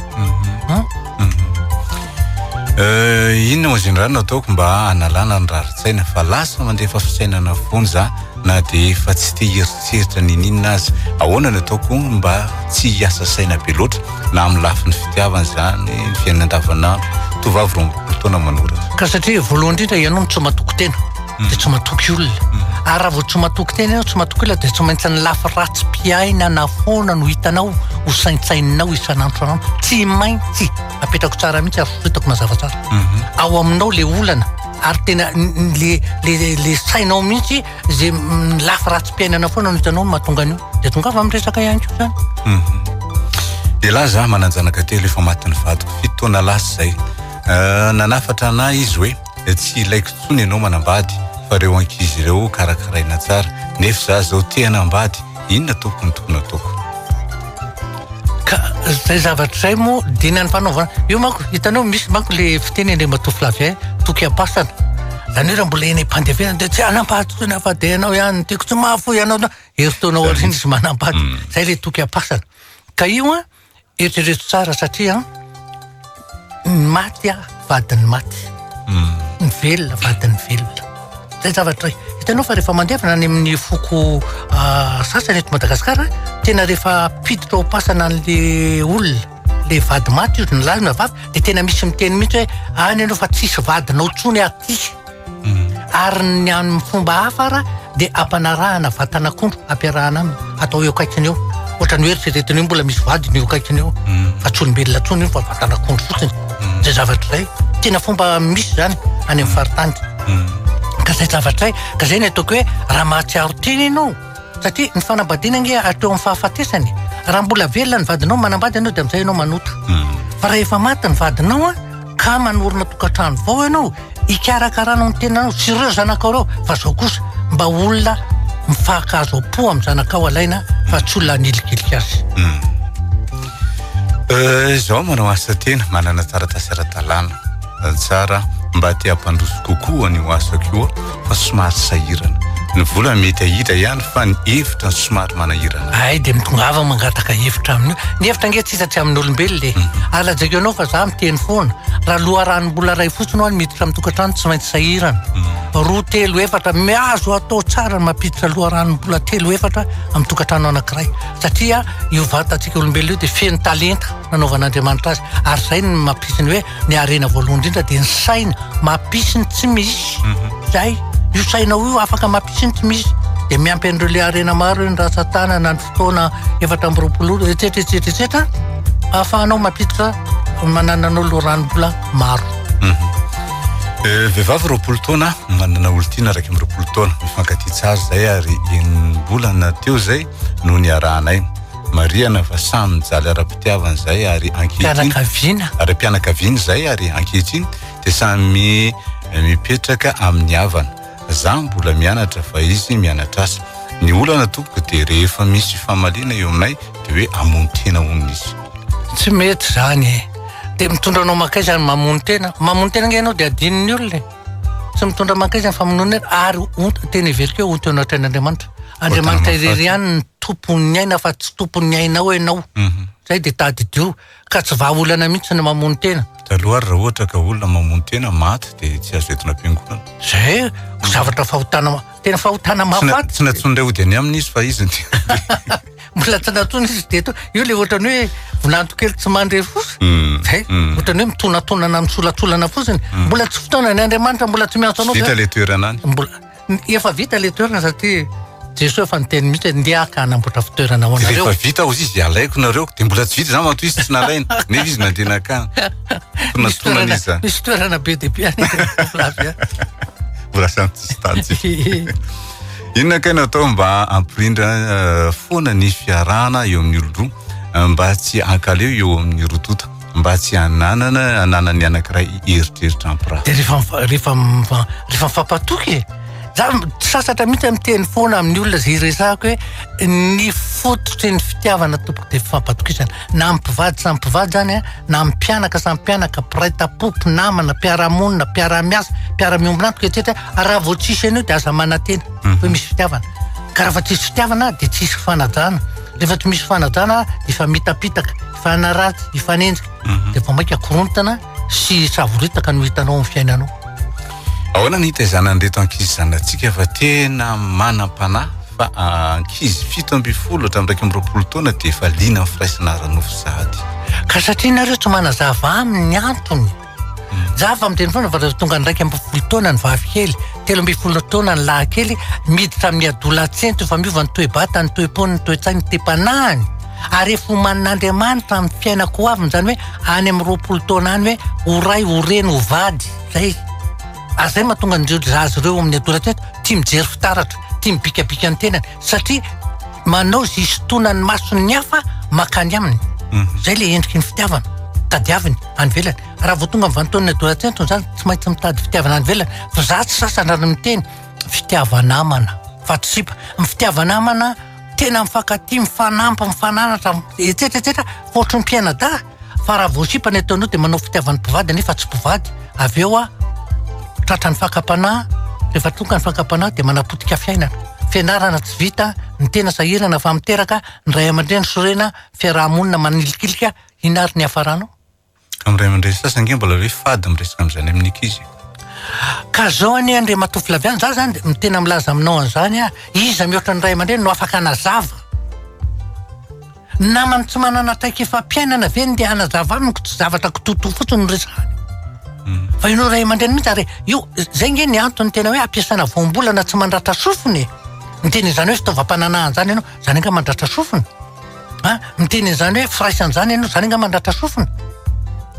Euh, inona moa izany no ataoko mba hanalana ny rarin-tsaina fa lasa mandefa fisainana foana za na dia efa tsy te hieritreritra n'inon'inona aza ahoana no ataoko mba tsy hiasa saina be loatra na amin'ny lafiny fitiavana izany ny fiainana andavanandro tovovavy roa ambiroapolo taona manoratra ka satria voalohany indrindra ianao no tsy matoky tena mm. dia tsy matoky olona ary raha vao tsy matoky tena ianao tsy matoky olona dia tsy maintsy ny lafy ratsy mpiaina na foana no hitanao ho saintsaininao isan'andro anao tsy maintsy apetrako tsara mihitsy ary fitako mazava tsara mhm. ao aminao le olana ary tena le le le sainao mihitsy ze mm, lafy ratsy mpiainana foana no hitanao mahatonga an'io dia tonga fa miresaka ihany koa zany mhm. dia lahy za manan-janaka telo efa matin'ny vadiko fito taona lasa izay euh, nanafatra anay izy hoe dia tsy ilaiko intsony ianao manambady fa reo ankizy reo karakaraina tsara nefa za zao te hanambady inona tompoko ny tokony ataoko ka zay zavatra zay moa dina ny fanaovana io manko hitanao misy manko le fiteny any matoa flavien toky ampasana zany hoe raha mbola eny am-pandevenana dia tsy hanampady tsy nafa dia ianao ihany tiako tsy mahafoy ianao herintaona aoriana izy manampady mm. zay le toky ampasana ka io a Eritrereto tsara satria ny maty a vadin'ny maty. Hmm. Ny velona vadin'ny velona. Zay zavatra hitanao fa rehefa mandevina any amin'ny foko ah, sasany eto Madagasikara tena rehefa piditra ho pasana an'le olona le vady maty io ny lahy na vavy de tena misy miteny mihitsy hoe any ianao fa tsisy vadinao tsony aty. ary ny amin'ny fomba hafa ara dia ampanarahana vatan'akondro ampiarahana aminy atao eo akaikiny eo ohatrany hoe eritreretina io mbola misy vadiny eo akaikiny eo mm. fa tsy olombelona tsony io fa vatan'akondro fotsiny mm. zay zavatra zay tena fomba misy zany any amin'ny faritany mm. ka zay zavatra zay ka zay ny ataoko hoe raha mahatsiaro tena ianao satria ny fanambadiana nge ateo amin'ny fahafatesany raha mbola velona ny vadinao manambady ianao dia amizay ianao manota fa raha efa maty ny vadinao a Ka manorina tokantrano vao ianao hikarakaranao ny tenanao sy ireo zanakao ireo fa izao kosa mba olona mifahankaazo am-po amin'ny zanakao alaina fa tsy olona hanilikilika azy. Hmm. Eh, izao manao asa tena manana taratasy ara-dalàna eh, tsara mba te hampandroso kokoa ny ho asako io fa somary sahirana. Ny vola mety ahidra ihany fa ny hevitra no somary manahirana. Ay dia mitongava mangataka hevitra amin'io. Ny hevitra ange tsisa tsy amin'olombelona e. Hmm. Ary lazaiko anao fa za miteny foana. Raha loharanom-bola iray fotsiny aho no miditra amin'ny tokantrano tsy maintsy sahirana. Hmm. Roa telo efatra miazo atao tsara mampiditra loharanom-bola telo efatra amin'ny tokantrano anankiray. Satria io vatantsika olombelona io dia feno talenta nanaovan'Andriamanitra azy. Ary izay no mampisy ny hoe ny harena voalohany indrindra dia ny saina mampisy ny tsy misy izay mhm. io sainao io afaka mampisy ny tsy misy dia miampy an'ireo le harena maro ny ratsatanana ny fotoana efatra amby roapolo etsetra etsetra etsetra ahafahanao mampiditra manananao loranombola maro mhm. eh, vehivavy roapolo taona manana olontiana araiky amby roapolo taona mifankatia tsara izay ary enimbolana teo izay no niarahanay Marihana fa samy mijaly ara-pitiavana izay ary ankehitriny fianakaviana ary fianakaviana izay ary ankehitriny dia samy mipetraka amin'ny havana. Za mbola mianatra fa izy mianatra asa. Ny olana tompoko dia rehefa misy famaliana eo aminay dia hoe hamono tena hono izy. Tsy mety izany e! Dia mitondra anao mankaiza ny mamono tena? Mamono tena ange ianao dia adinon'ny olona e! Tsy mitondra mankaiza ny famonoana ary tena heveriko hoe onty eo anatrehan'Andriamanitra. Andriamanitra irery ihany ny tompon'ny aina fa tsy tompon'ny ainao ianao. Mhm. Zay dia tadidio ka tsy vahaolana mihitsy ny mamono tena. Taloha raha ohatra ka olona mamono tena maty dia tsy azo entina am-piangonana. Zay zavatra fahotana Tena fahotana mahafaty. Tsy natsonin' ilay ody any aminy izy fa izy mbola tsy natsonin' izy dia io le ohatran'ny hoe volanto kely tsy mandre fotsiny. Hmm. Zay hmm. ohatran'ny hoe mitonatonana misolatsolana fotsiny. Hmm. Mbola tsy fotoana ny Andriamanitra mbola tsy miantso anao. Vita le toerana any. Mbola efa vita le toerana satria Jesoa efa niteny mihitsy hoe ndeha ka hanamboatra fitoerana ho anareo. Rehefa vita ozy izy alaiko nareo dia mbola tsy vita zany matoa izy tsy nalaina. Nefa izy nandeha nakany. Tonatonan' izy. Misy toerana be dia be any. Brasantsistans. Inona kay natao mba ampirindra eh, foana ny fiarahana eo amin'ny olon-droa eh, mba tsy hankaleo eo amin'ny roa tonta mba tsy hananana hananan'ny anankiray eritreritra ampiraha. Dia rehefa mifa- rehefa mifa- rehefa mifampatoky e. Za m- sasatra mihitsy miteny foana amin'ny olona izay resahako hoe ny fototry ny fitiavana tompoko dia fifampatokisana. Na amin'ny mpivady samy mpivady zany a. na amin'ny mpianaka samy mpianaka, mpiray tampo, mpinamana, mpiara-monina, mpiara-miasa, mpiara-miombona antoka etsetra, ary raha vao tsisy an'io dia aza manantena mhm. hoe misy fitiavana. Ka raha fa tsisy fitiavana dia tsisy fanajana. Rehefa tsy misy fanajana dia efa mitapitaka, efa hanaratsy, efa hanenjika. Mhm. Dia vao maika korontana sy savoritaka no hitanao amin'ny fiainanao. Ahoana ny hitaizanan'ireto ankizy zanatsika fa tena manam-panahy fa ah, ankizy fito ambin'ny folo hatramin'ny iraika amby roapolo taona dia efa liana amin'ny firaisana ara-nofo sahady. Ka satria nareo tsy manazava aminy ny antony. Hmm. Za fa miteny foana fa rehefa tonga iraika ambin'ny folo taona ny vavikely, telo ambin'ny folo taona ny lahikely, miditra amin'ny adolatsento efa miova ny toe-bata, ny toe-pony, ny toe-tsaina, ny toe-panahiny ary efa omanin'Andriamanitra amin'ny fiainako ho avy izany hoe any amin'ny roapolo taona any hoe ho ray ho reny ho vady Zay izy. Ary zay mahatonga an'ireo zaza ireo amin'ny adolescence tia mijery fitaratra, tia mibikabika ny tenany satria manao izay isintonan'ny mason'ny hafa mankany aminy. Mhm. Zay le endriky ny fitiavana. Tadiaviny any ivelany. Raha vao tonga amin'ny vanintaon'ny adolescence izany tsy maintsy mitady fitiavana any ivelany. Fa za tsy sasany raha ny miteny fitiavan'amana, fatrisipa. Ny fitiavan'amana tena mifankatia, mifanampy, mifananatra, etsetra etsetra, fa ohatry ny mpianadahy. fa raha vao sipa ny ataonao dia manao fitiavan'ny mpivady nefa tsy mpivady avy eo aho tratra ny fakam-panahy rehefa tonga ny fakam-panahy dia manapotika fiainana fianarana tsy vita ny tena sahirana fa miteraka ny ray aman-dreny sorena fiaraha-monina manilikilika hinary ny hafaranao amin'ny ray aman-dreny sasany ange mbola hoe fady miresaka amin'izany amin'ny ankizy ka zao anie andriamatoa Flavian za zany tena milaza aminao an'izany aho iza mihoatra ny ray aman-dreny no afaka hanazava Namany tsy manana traikefam-piainana ve ny ndeha hanazava amiko tsy zavatra kitoto fotsiny no resahany. Fa ianao ray aman-dreny mihitsy ary io zay nge ny antony tena hoe ampiasana voambolana tsy mandratra sofina e. Miteny an'izany hoe fitaovam-pananahana izany ianao, izany angaha mandratra sofina? A, miteny an'izany hoe firaisan' izany ianao, izany angaha mandratra sofina?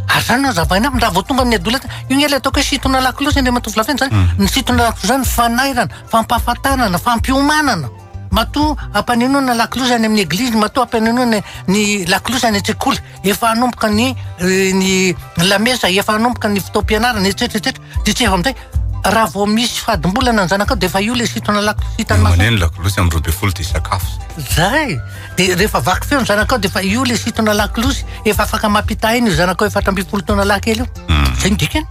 Ary izany no hazavaina aminy raha vao tonga ny adolescence. Io nge ilay ataoko hoe sintonà lakolosy Andriamatoa Volaventy izany. Ny sintonà lakolosy izany fanairana, fampahafantarana, fampiomanana. Matoa ampanenoina ny lakolosy any amin'ny eglizy, matoa ampanenoina ny lakolosy any an-tsekoly, efa hanomboka ny eh, ny lamesa, efa hanomboka ny fotoam-pianarana, etsetra etsetra. Dia tsy efa amin'izay, raha vao misy fadimbolana ny zanakao dia efa io ilay sitona lakolosy hitany maso. Maneno ny lakolosy amin'ny roa ambin'ny folo dia sakafo izay. Zay! Dia rehefa vaky feo ny zanakao dia efa io ilay sitona lakolosy, efa afaka mampita aina io zanakao efatra ambin'ny folo taona lahy kely io. Izay no dikany.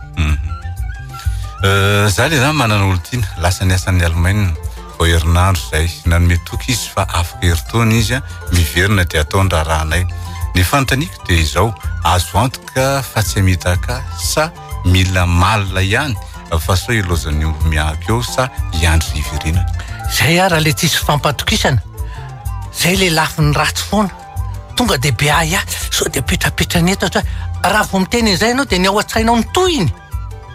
Eh, Za le zany manana olon-tiana, lasa niasa any Alemaina. vao herinandro izay. Nanome toky izy fa afaka herintaona izy miverina dia atao ny raharahanay. Ny fanontaniako dia izao, azo antoka fa tsy hamitaka sa mila malina ihany fa sao hilaozan'ny omby miahy eo sa hiandry hiverenany? Izay ary ilay tsisy fifampatokisana. Izay ilay lafiny ratsy foana. Tonga dia be ahiahy, sao dia apetrapetrany eto hatr-, raha vao miteny an'izay ianao dia ny ao an-tsainao ny tohiny.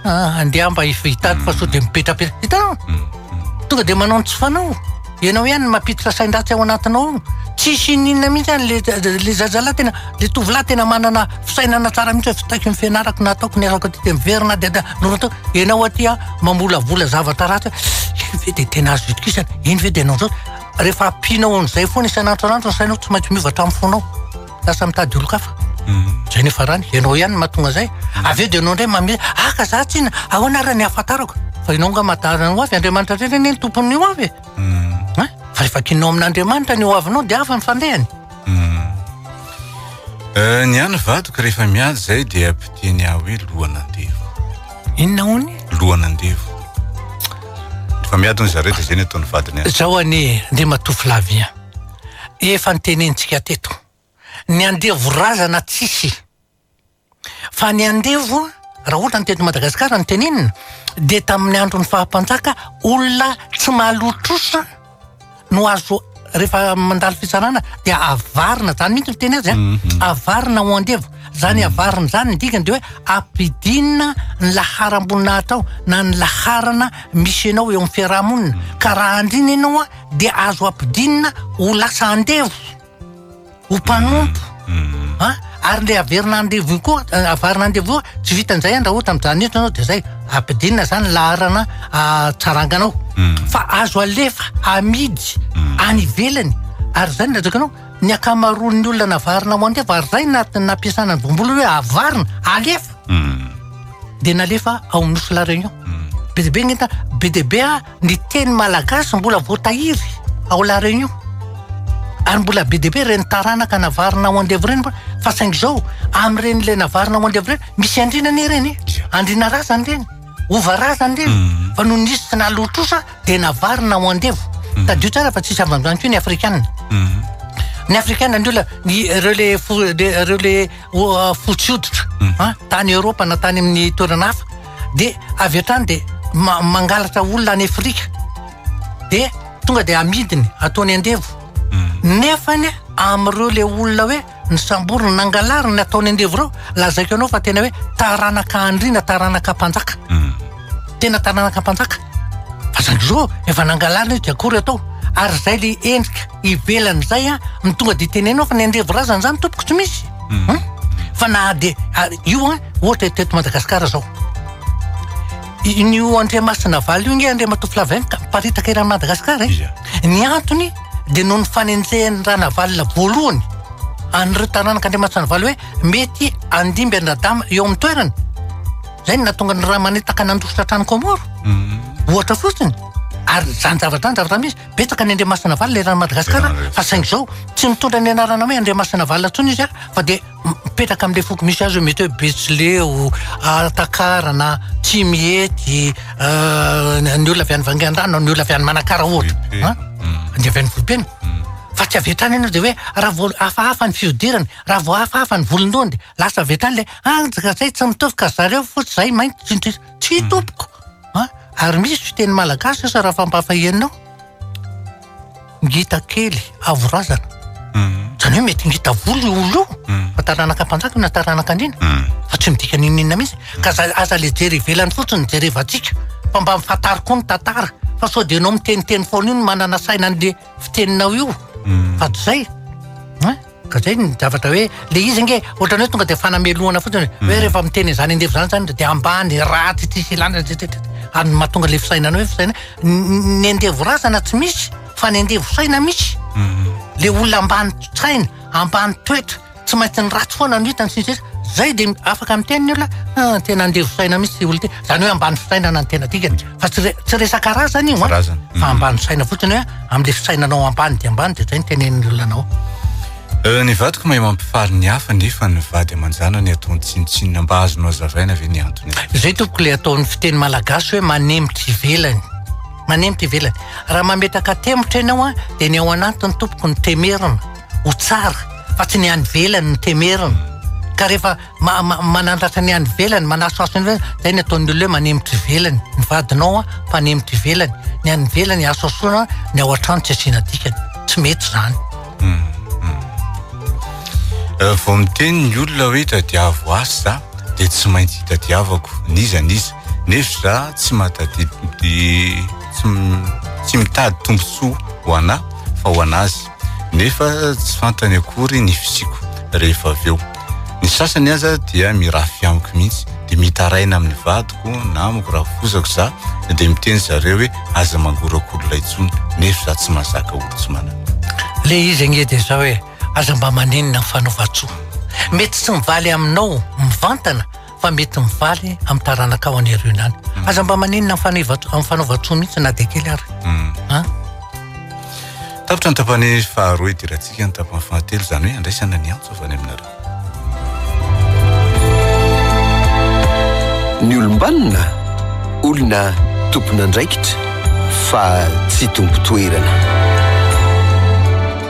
Ah, andeha mba hitady fa sao dia mipetrapetra. Hitanao? Mm, mm. Tonga dia manao ny tsy fanao. Ianao ihany no mampiditra sain-dratsy ao anatinao ao. Tsisy ininona mihitsy any le le zazalahy tena le tovolahy tena manana fisainana tsara mihitsy fitaiko ny fianarako na ataoko ny azako aty dia miverina dia dia norotao. Ianao aty a mamolavola zavatra ratsy. Iny ve dia tena azo itokisana? Iny ve dia nanao rehefa ampianao an'izay foana isan'andro isan'andro ny sainao tsy maintsy miova hatramin'ny fonao. lasa mitady olon-kafa zay ny farany ianao ihany mahatonga zay avy eo dia ianao indray mame aka za tsina ahoana ary ny hahafantarako fa ianao nga mahatahana ny ho avy andriamanitra indray anie ny tompon'ny ho avy e fa rehefa kinao amin'andriamanitra ny ho avinao dia avy ny fandehany ny any vadiko rehefa miady zay dia ampiteny ahy hoe lohan'andevo inona hono lohan'andevo rehefa miady hono zareo dia zay ny ataon'ny vadiny azy zao anie andriamatoa Flavien Efa notenenintsika teto, ny andevo razana tsisy, fa ny andevo raha ohatra ny teto Madagasikara no tenenina dia tamin'ny andron'ny faha mpanjaka olona tsy mahaloa trosa no azo rehefa mandalo fitsarana dia avarina zany mihitsy ny teny azy an, mhm. avarina ho andevo zany mhm. avarina zany ny dikany de hoe ampidinina ny laharam-boninahitra ao na ny laharana misy anao eo amin'ny fiarahamonina mhm. ka raha andrina ianao dia azo ampidinina ho lasa andevo, ho mpanompo. Mm. Ah, ary le averina andevo io koa, eh, avarina andevo io, tsy vitan'izay an, raha ohatra mijanona eto ianao dia zay, ampidinina zany laharana ah, tsaranganao. Mm. Fa azo alefa, amidy, mm. any ivelany. Ary zany latsaka anao, ny akamaroan'ny olona navarina ho andevo, ary zay na- nampiasana ny vombolo hoe avarina, alefa. Mm. Dia nalefa ao amin'ny nosy La Réunion. Mm. Be dia be ny entana, be dia be ah, ny teny malagasy mbola voatahiry ao La Réunion. Ary mbola be dia be ireny taranaka navarina ao andevo ireny mbola fa saingy izao amin'ireny ilay navarina ao andevo ireny misy andriana anie ireny e. Tsia. Andriana razana ireny, hova razana ireny. Mhm. Fa nony nisy tsy naloa trosa dia navarina ao andevo. Mhm. Tadio tsara fa tsisy avy koa ny afrikana. Mhm. Ny afrikana ny olona ny ireo le fo- le- ireo le o- fotsy hoditra. Mhm. An, tany Eoropa na tany amin'ny toerana hafa. dia avy hatrany dia mangalatra olona any afrika dia tonga dia amidiny ataony andevo hmm. nefa ny am'ireo le olona hoe ny samboriny nangalary ny ataony andevo ireo lazaiko anao fa tena hoe taranaka andriana taranaka mpanjaka hmm. tena taranaka mpanjaka fa zany zao efa nangalarina izy dia akory atao ary zay le endrika Ivelan'izay an, ny tonga dia teneno fa ny andevo razana izany tompoko tsy misy. Hmm. Fa na dia io an, ohatra teto Madagasikara izao. In'io Andriamasina Valo io nge Andriamatoa Flavien ka miparitaka eran'i Madagasikara e. Ny antony dia noho ny fanenjehan'ny Ranavalona voalohany an'ireo taranak'Andriamasina Valo hoe mety andimby an-dradama eo amin'ny toerana. Izay no nahatonga ny Ramanetaka nandositra hatrany Kômôro. Hmm. Ohatra fotsiny. Ary izany zavatra izany zavatra misy. Betsaka ny Andriamasinavalona eran'i Madagasikara fa saingy izao tsy mitondra ny anarana hoe Andriamasinavalona intsony izy fa dia mipetraka amin'ilay foko misy azy hoe mety hoe Betsileo, Alatakarana, Tsimihety, euh, ny olona avy any Vangaindrano, ny olona avy any Manakara ohatra. Hein? Ny avy any Vohipeno. Fa tsy avy hatrany ianao dia hoe raha vao hafahafa ny fihodirany, raha vao hafahafa ny volon-dohany dia lasa avy hatrany ilay anjaka izay tsy mitovy ka zareo fotsy izay mainty, tsindritsy. Tsia tompoko a! Ary misy fiteny malagasy asa raha fampahafahianao? Ngita kely, avo razana. Mhm. Zany hoe mety ngita volo io olona io mhm. fa taranaka mpanjaka na taranaka an'ina mhm. fa tsy midika n'inon'inona mihitsy ka aza le jery ivelany fotsiny jerevantsika fa mba mifatary koa ny tantara fa sao dia ianao miteniteny foana io ny manana saina an'le fiteninao io fa tsy zay Ka zay ny zavatra hoe le izy ange ohatrany hoe tonga de fanamelohana fotsiny hoe mhm. rehefa miteny izany andevo zany zany de ambany ratsy tsisy ilana ary mahatonga le fisainana hoe fisainana ny andevo razana tsy misy fa ny andevo saina misy mhm. le olona ambany tsaina ambany toetra tsy maintsy ny ratsy foana no hitany sisisy zay de afaka miteny ny olona ah, tena andevo saina misy olona ty zany hoe ambany fisainana ny tena dikany fa tsy re- tsy resaka razana io an. Razana. fa Mhm. ambany saina fotsiny hoe amin'ilay fisainanao ambany dia ambany dia izay ny tenenin'ny olona anao Eh, Ny vadiko mahay mampifaly ny hafa nefa ny vady aman-janany ataony tsinontsinona mba azonao azavaina ve ny antony azy? izay tompoko ilay ataon'ny fiteny malagasy hoe manemotra ivelany manemotra ivelany raha mametraka temotra ianao a dia ny ao anatiny tompoko ny temerina ho tsara fa tsy ny any ivelany ny temerina ka rehefa manandratra ny any ivelany manasoaso ny ivelany zay ny ataon'ny olona hoe manemitra ivelany ny vadinao a mpanemitra ivelany ny any ivelany asoasoana ny ao an-trano tsy asiana dikany tsy mety zany hmm, hmm. Euh, vao miteny ny olona hoe tadiavo asy za de tsy maintsy hitadiavako niza niza nefa za tsy matadi tsy mitady tombontsoa ho anah fa ho an'azy nefa tsy fantany akory ny fisiako rehefa avy eo. Ny sasany aza dia mirafy amiko mihitsy, dia mitaraina amin'ny vadiko na amiko raha fozako za, dia miteny zareo hoe aza mangorakorona intsony, nefa za tsy mazaka olo tsy manana. Le izy ange dia zao e, aza mba maninona ny fanaovan-tsoa, mety tsy mivaly aminao mivantana, fa mety mivaly amin'ny taranakao any aoriana any. Mm. Aza mba maninona amin'ny fanaovan-tsoa mihitsy na dia kely ary. Mm. Tapitra ny tapany faharoa idirantsika ny tapany fahatelo izany hoe andraisana ny antso avy any aminareo. Ny olombanona olona tompon'andraikitra fa tsy tompo toerana.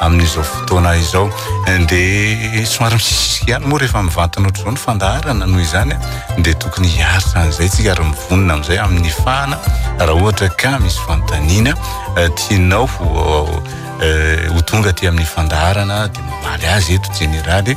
amin'izao fotoana izao dia somary misisisika ihany moa rehefa mivantana ohatr'izao ny fandaharana noho izany dia tokony hiaritra an'izay tsika ary mivonona amin'izay amin'ny fahana raha ohatra ka misy fanontaniana eh, tianao ho eh, tonga aty amin'ny fandaharana dia mamaly azy eto jeneraly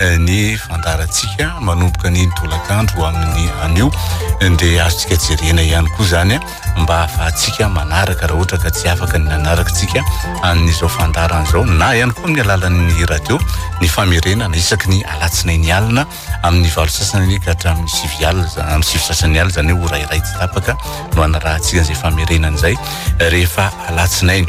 eh, ny fandarantsika manomboka ny tolakandro amin'ny anio eh, dia azontsika jerena ihany koa zany eh, mba hahafahantsika manaraka raha ohatra ka tsy afaka ny nanaraka tsika an'izao fandarana zao na ihany koa amin'ny alalan'ny radio ny famerenana isaky ny alatsina ny alina amin'ny valo sasany ka hatramin'ny sivy alina amin'ny sivy sasany alina zany hoe ho rairay tsy tapaka no anarahantsika izay famerenana izay rehefa alatsinainy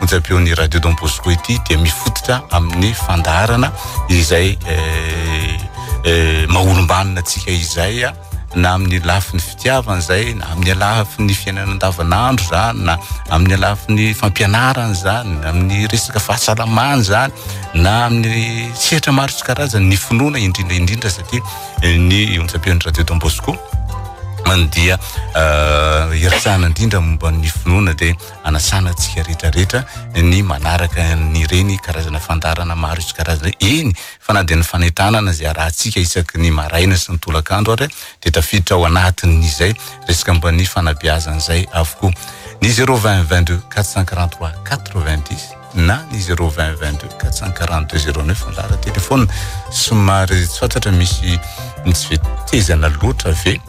onjam-peon'ny Radio Don Bosco ity dia mifototra amin'ny fandaharana izay eh, eh, maholombanina antsika izay ah, na amin'ny lafiny fitiavana izay na amin'ny lafiny fiainana andavanandro zany na amin'ny lafiny fampianarana zany na amin'ny resaka fahasalamana zany na amin'ny sehatra maro sy karazany ny finoana indrindra indrindra satria eh, ny onjam-peon'ny Radio Don Bosco dia eh, hiresahana indrindra momba ny finoana dia anasana antsika rehetra rehetra ny manaraka an'ireny karazana fandaharana maro isan-karazany ireny. Eny fa na dia ny fanentanana izay arahantsika isaky ny maraina sy ny tolakandro ary dia tafiditra ao anatin'izay resaka momba ny fanabeazana izay avokoa. Ny zero vingt vingt deux quatre cent quarante trois quatre vingt dix. na ny 02022 442 09 ny laharan telefaona somary tsy fantatra misy tsy vetezana loatra ve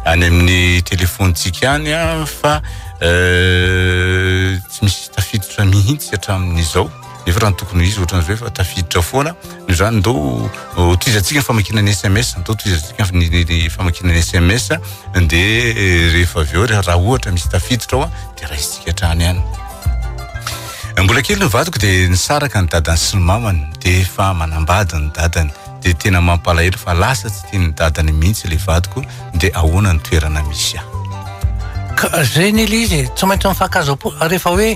any amin'ny telefontsika any a fa euh, tsy misy tafiditra mihitsy hatramin'izao nefa raha ny tokony ho izy ohatran'izao efa tafiditra foana Izany ndao tohizantsika ny famakiana ny SMS, ndao tohizantsika ny famakiana ny SMS dia eh, rehefa avy eo raha ohatra misy tafiditra ao dia raisintsika hatrany any. Eh, mbola kely ny vadiko dia nisaraka ny dadany sy ny mamany dia efa manambady ny dadany dia tena mampalahelo fa lasa tsy tian'ny dadany mihitsy ilay vadiko dia ahoana ny toerana misy ahy. Ka zay ny ilay izy e, tsy maintsy mifankahazo-po, rehefa hoe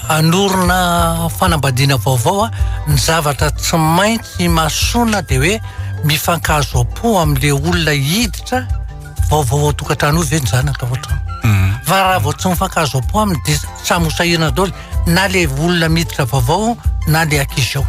hanorina fanambadiana vaovao, ny zavatra tsy maintsy imasoana dia hoe mifankahazo-po amin'ilay olona hiditra vaovao ao tokantrano io ve ny zanaka ohatra. Fa raha vao tsy mifankahazo-po aminy dia samy ho sahirana daholo na ilay olona miditra vaovao na ilay ankizy ao.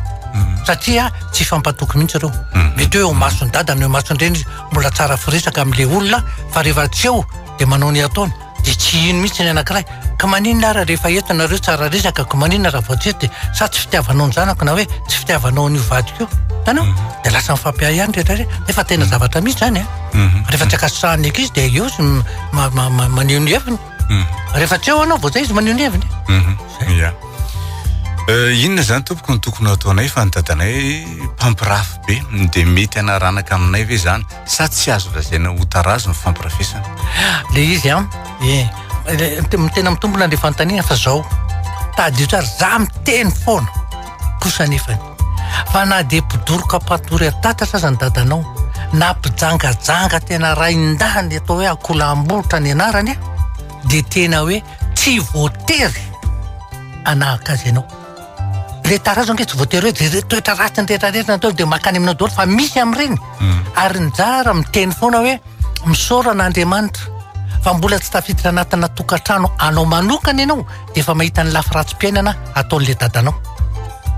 Satria tsy hifampatoky mihitsy ireo. Mety hoe eo imason'i dada na eo imason'i reny izy. Mbola tsara firesaka amin'ilay olona fa rehefa tsy eo dia manao ny ataony dia tsy hino mihitsy ny anankiray ka maninona ary rehefa eto nareo tsara resaka ko maninona raha vao tsy eto dia sa tsy fitiavanao ny zanako na hoe tsy fitiavanao an'io vadiko io hitanao dia lasa mifampiahy ihany rehetra rehetra nefa tena zavatra mihitsy zany a rehefa tsy ankasitrahan'ny ankizy dia eo izy maneho ny heviny mhm. rehefa tsy eo anao vao zay izy maneho ny heviny mhm. ya eh, inona zany tompoko ny tokony ataonay fa ny dadanay mpampirafy be dia mety anaranaka aminay ve zany sa tsy azo lazaina ho tarazo ny fampirafesana le izy an eh, tena mitombona le fanontaniana fa zao tadidio tsara za miteny foana kosa nefany fa na dia mpidoroka mpatory an-tatatra aza ny dadanao na mpijangajanga tena rain-dahy ny atao hoe akolam-bolotra ny anarany dia tena hoe tsy voatery hanahaka azy ianao le tarazo ange tsy voatery hoe de toetra ratsy ny rehetra rehetra natao dia makany aminao daholo fa misy amin'ireny ary ny zara miteny foana hoe Misaora an'Andriamanitra fa mbola tsy tafiditra anatina tokantrano anao manokana ianao dia efa mahita ny lafy ratsim-piainana ataon'ilay dadanao.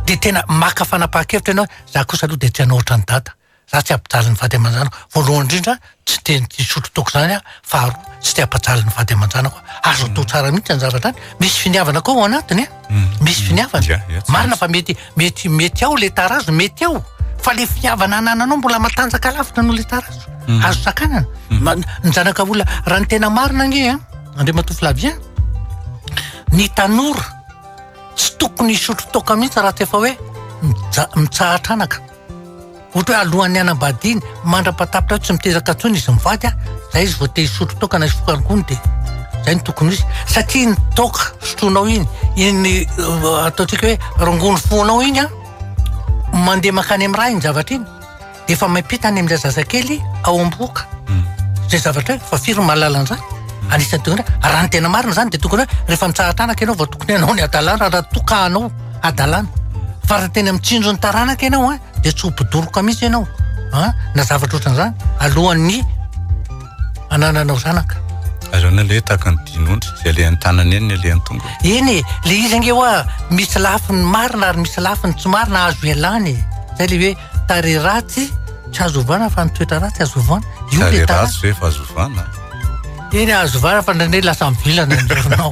Dia tena maka fanapahan-kevitra ianao hoe za kosa aloha dia tsy hanao ohatran'i dada. Za tsy hampijaly ny vady aman-janako. Voalohany indrindra, tsy dia hisotro toaka izany aho. Faharoa, tsy te hampijaly ny vady aman-janako aho. Azo atao tsara mihitsy izany zavatra izany. Misy finiavana koa ao anatiny e! misy finiavana marina fa mety mety mety ao le tarazo mety ao fa le finiavana anananao mbola matanjaka lavitra no le tarazo mm. azo sakanana mm. ny zanaka vola raha ny tena marina ange a andre matoflavien ny tanora tsy tokony isotro toka mihitsy raha tsy efa hoe mitsahatra anaka Ohatra hoe alohan'ny hanambadiany, mandra-patapitra eo tsy miteraka intsony izy mivady an, izay izy vao te hisotro toaka na hisotro kalgony dia izay no tokony ho izy. Satria iny toaka sotroinao iny, iny uh, ataontsika hoe rongony fonao iny an, mandeha makany amin'ny raha iny zavatra iny, dia efa maipita any amin'ilay zazakely ao am-bohoka. Hmm. Izay zavatra hoe fa firy no mahalala an'izany? Hmm. Anisan'ny tokony hoe, raha ny tena marina izany dia tokony hoe rehefa mitsahatra anaka ianao vao tokony hanao ny hadalana raha tokanao. hadalana fa raha tena mitsinjo ny taranaka ianao a dia tsy ho mpidoroka mihitsy ianao a na zavatra ohatran'izany alohan'ny anananao zanaka Aleo ny aleha tahaka ny dinondry, izay alehan'ny tanana eny ny alehan'ny tongony. Eny e, le izy ange hoa misy lafiny marina ary misy lafiny tsy marina azo ialana e. Zay le hoe tarehy ratsy tsy azo ovana fa ny toetra ratsy azo ovana. Io le Tarehy ratsy ve fa azo ovana? Eny azo ovana fa ndraindray lasa mivilana ny lohanao.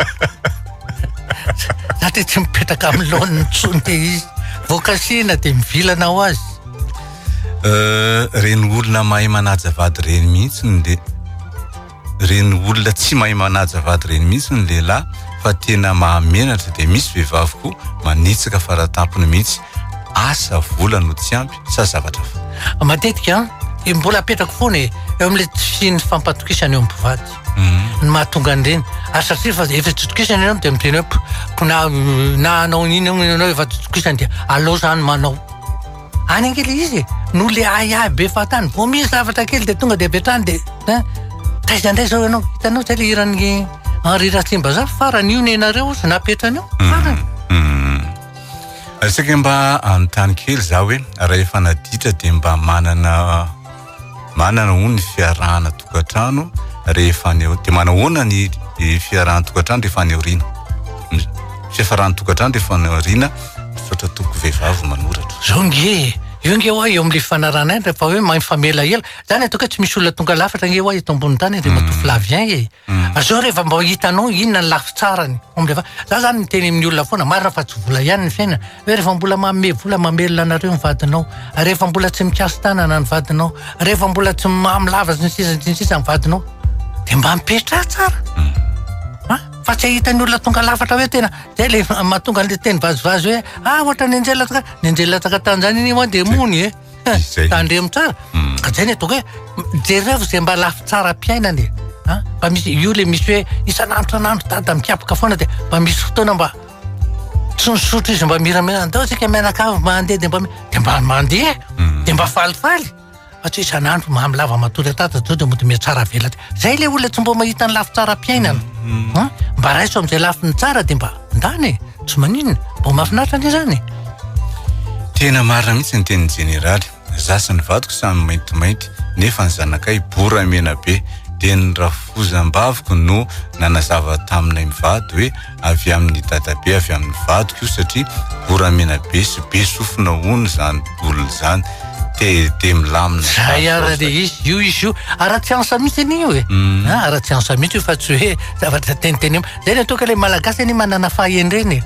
Za dia tsy mipetraka amin'ny laoniny intsony dia izy. Vao kasihina dia mivilana ho azy. Euh, reny olona mahay manaja vady reny mihitsy ny le reny olona tsy mahay manaja vady reny mihitsy ny lehilahy fa tena mahamenatra dia misy vehivavy koa manitsaka faratampony mihitsy asa vola no tsy ampy sa zavatra fa matetika dia mbola apetrako foana e eo amin'ilay tsy ny fampatokisana eo amin'ny mpivady Mhm. ny mahatonga an'ireny ary satria fa efa totokisana ianao dia miteny hoe ko na na hanao an'iny hono ianao efa totokisana dia aleo izany manao any ange ilay izy e noho ilay ahiahy be fahatany vao misy zavatra kely dia tonga dia avy hatrany dia ein taiza indray izao ianao hitanao izay ilay hiran'ny Henri Ratsimbazaha farany io nenareo ozy napetrany eo mhm. farany mhm. Asika mba anontany kely za hoe raha efa naditra dia mba manana Manana hono ny fiarahana tokantrano rehefa any aoriana. Dia manao hoana ny fiarahana tokantrano rehefa any aoriana? Fiafarana tokantrano rehefa any aoriana, misaotra tompoko vehivavy manoratra. Zao nge e! Io nge hoa eo amin'ilay fanarahana ihany rehefa hoe mifamela ela. Zany ataoko hoe tsy misy olona tonga lafatra nge hoa eto ambonin'ny tany dia matoa Flavien e! Ary zao rehefa mba hitanao inona ny lafitsarany? Za zany miteny amin'ny olona foana, marina fa tsy vola ihany ny fiainana. Rehefa mbola manome vola mamelona anareo ny vadinao, rehefa mbola tsy mikasi-tanana ny vadinao, rehefa mbola tsy mamy lava sy ny sisa sy ny sisa ny vadinao, dia mba mipetraha tsara. Ha? Hmm. Fa tsy ahita ny olona tonga lafatra hoe tena, dia le mahatonga le teny vazivazy hoe, ah, ohatra ny anjela taka, ny anjela taka tanzania ni moa dia mony e. Eh. Tandremo tsara. Hmm. Ka zay ny ataoko hoe, jereo izay mba lafy tsara mpiainana e. Ha? Fa misy, io le misy hoe, isan'andro isan'andro dada mikiapaka foana dia mba misy fotoana mba tsy misotro izy mba miramira andao tsika mianakavy mba handeha dia mba dia mba mandeha mhm. dia mba falifaly fa tsy isan'andro mamy lava matory atata zao dia mody mihatsara avela zay le olona tsy mba mahita ny lafy tsara mpiainana mhm. mba raiso amin'izay lafiny tsara dia mba ndany e. tsy maninona mba mahafinaritra anie zany tena marina mihitsy ny tenin'ny jeneraly Za sy ny vadiko samy maintimainty nefa ny zanakay bora mena be. Dia ny rafozambaviko no nanazava taminay mivady hoe avy amin'ny dadabe avy amin'ny vadiko io satria bora mena be sy be sofina hono izany boule izany. TED milamina. Zay ara dia izy io izy io ara tsiansa mihitsy anie io e. Ara tsiansa mihitsy io fa tsy hoe zavatra teniteny. Zay le atao ka le malagasy anie manana fahendrena e.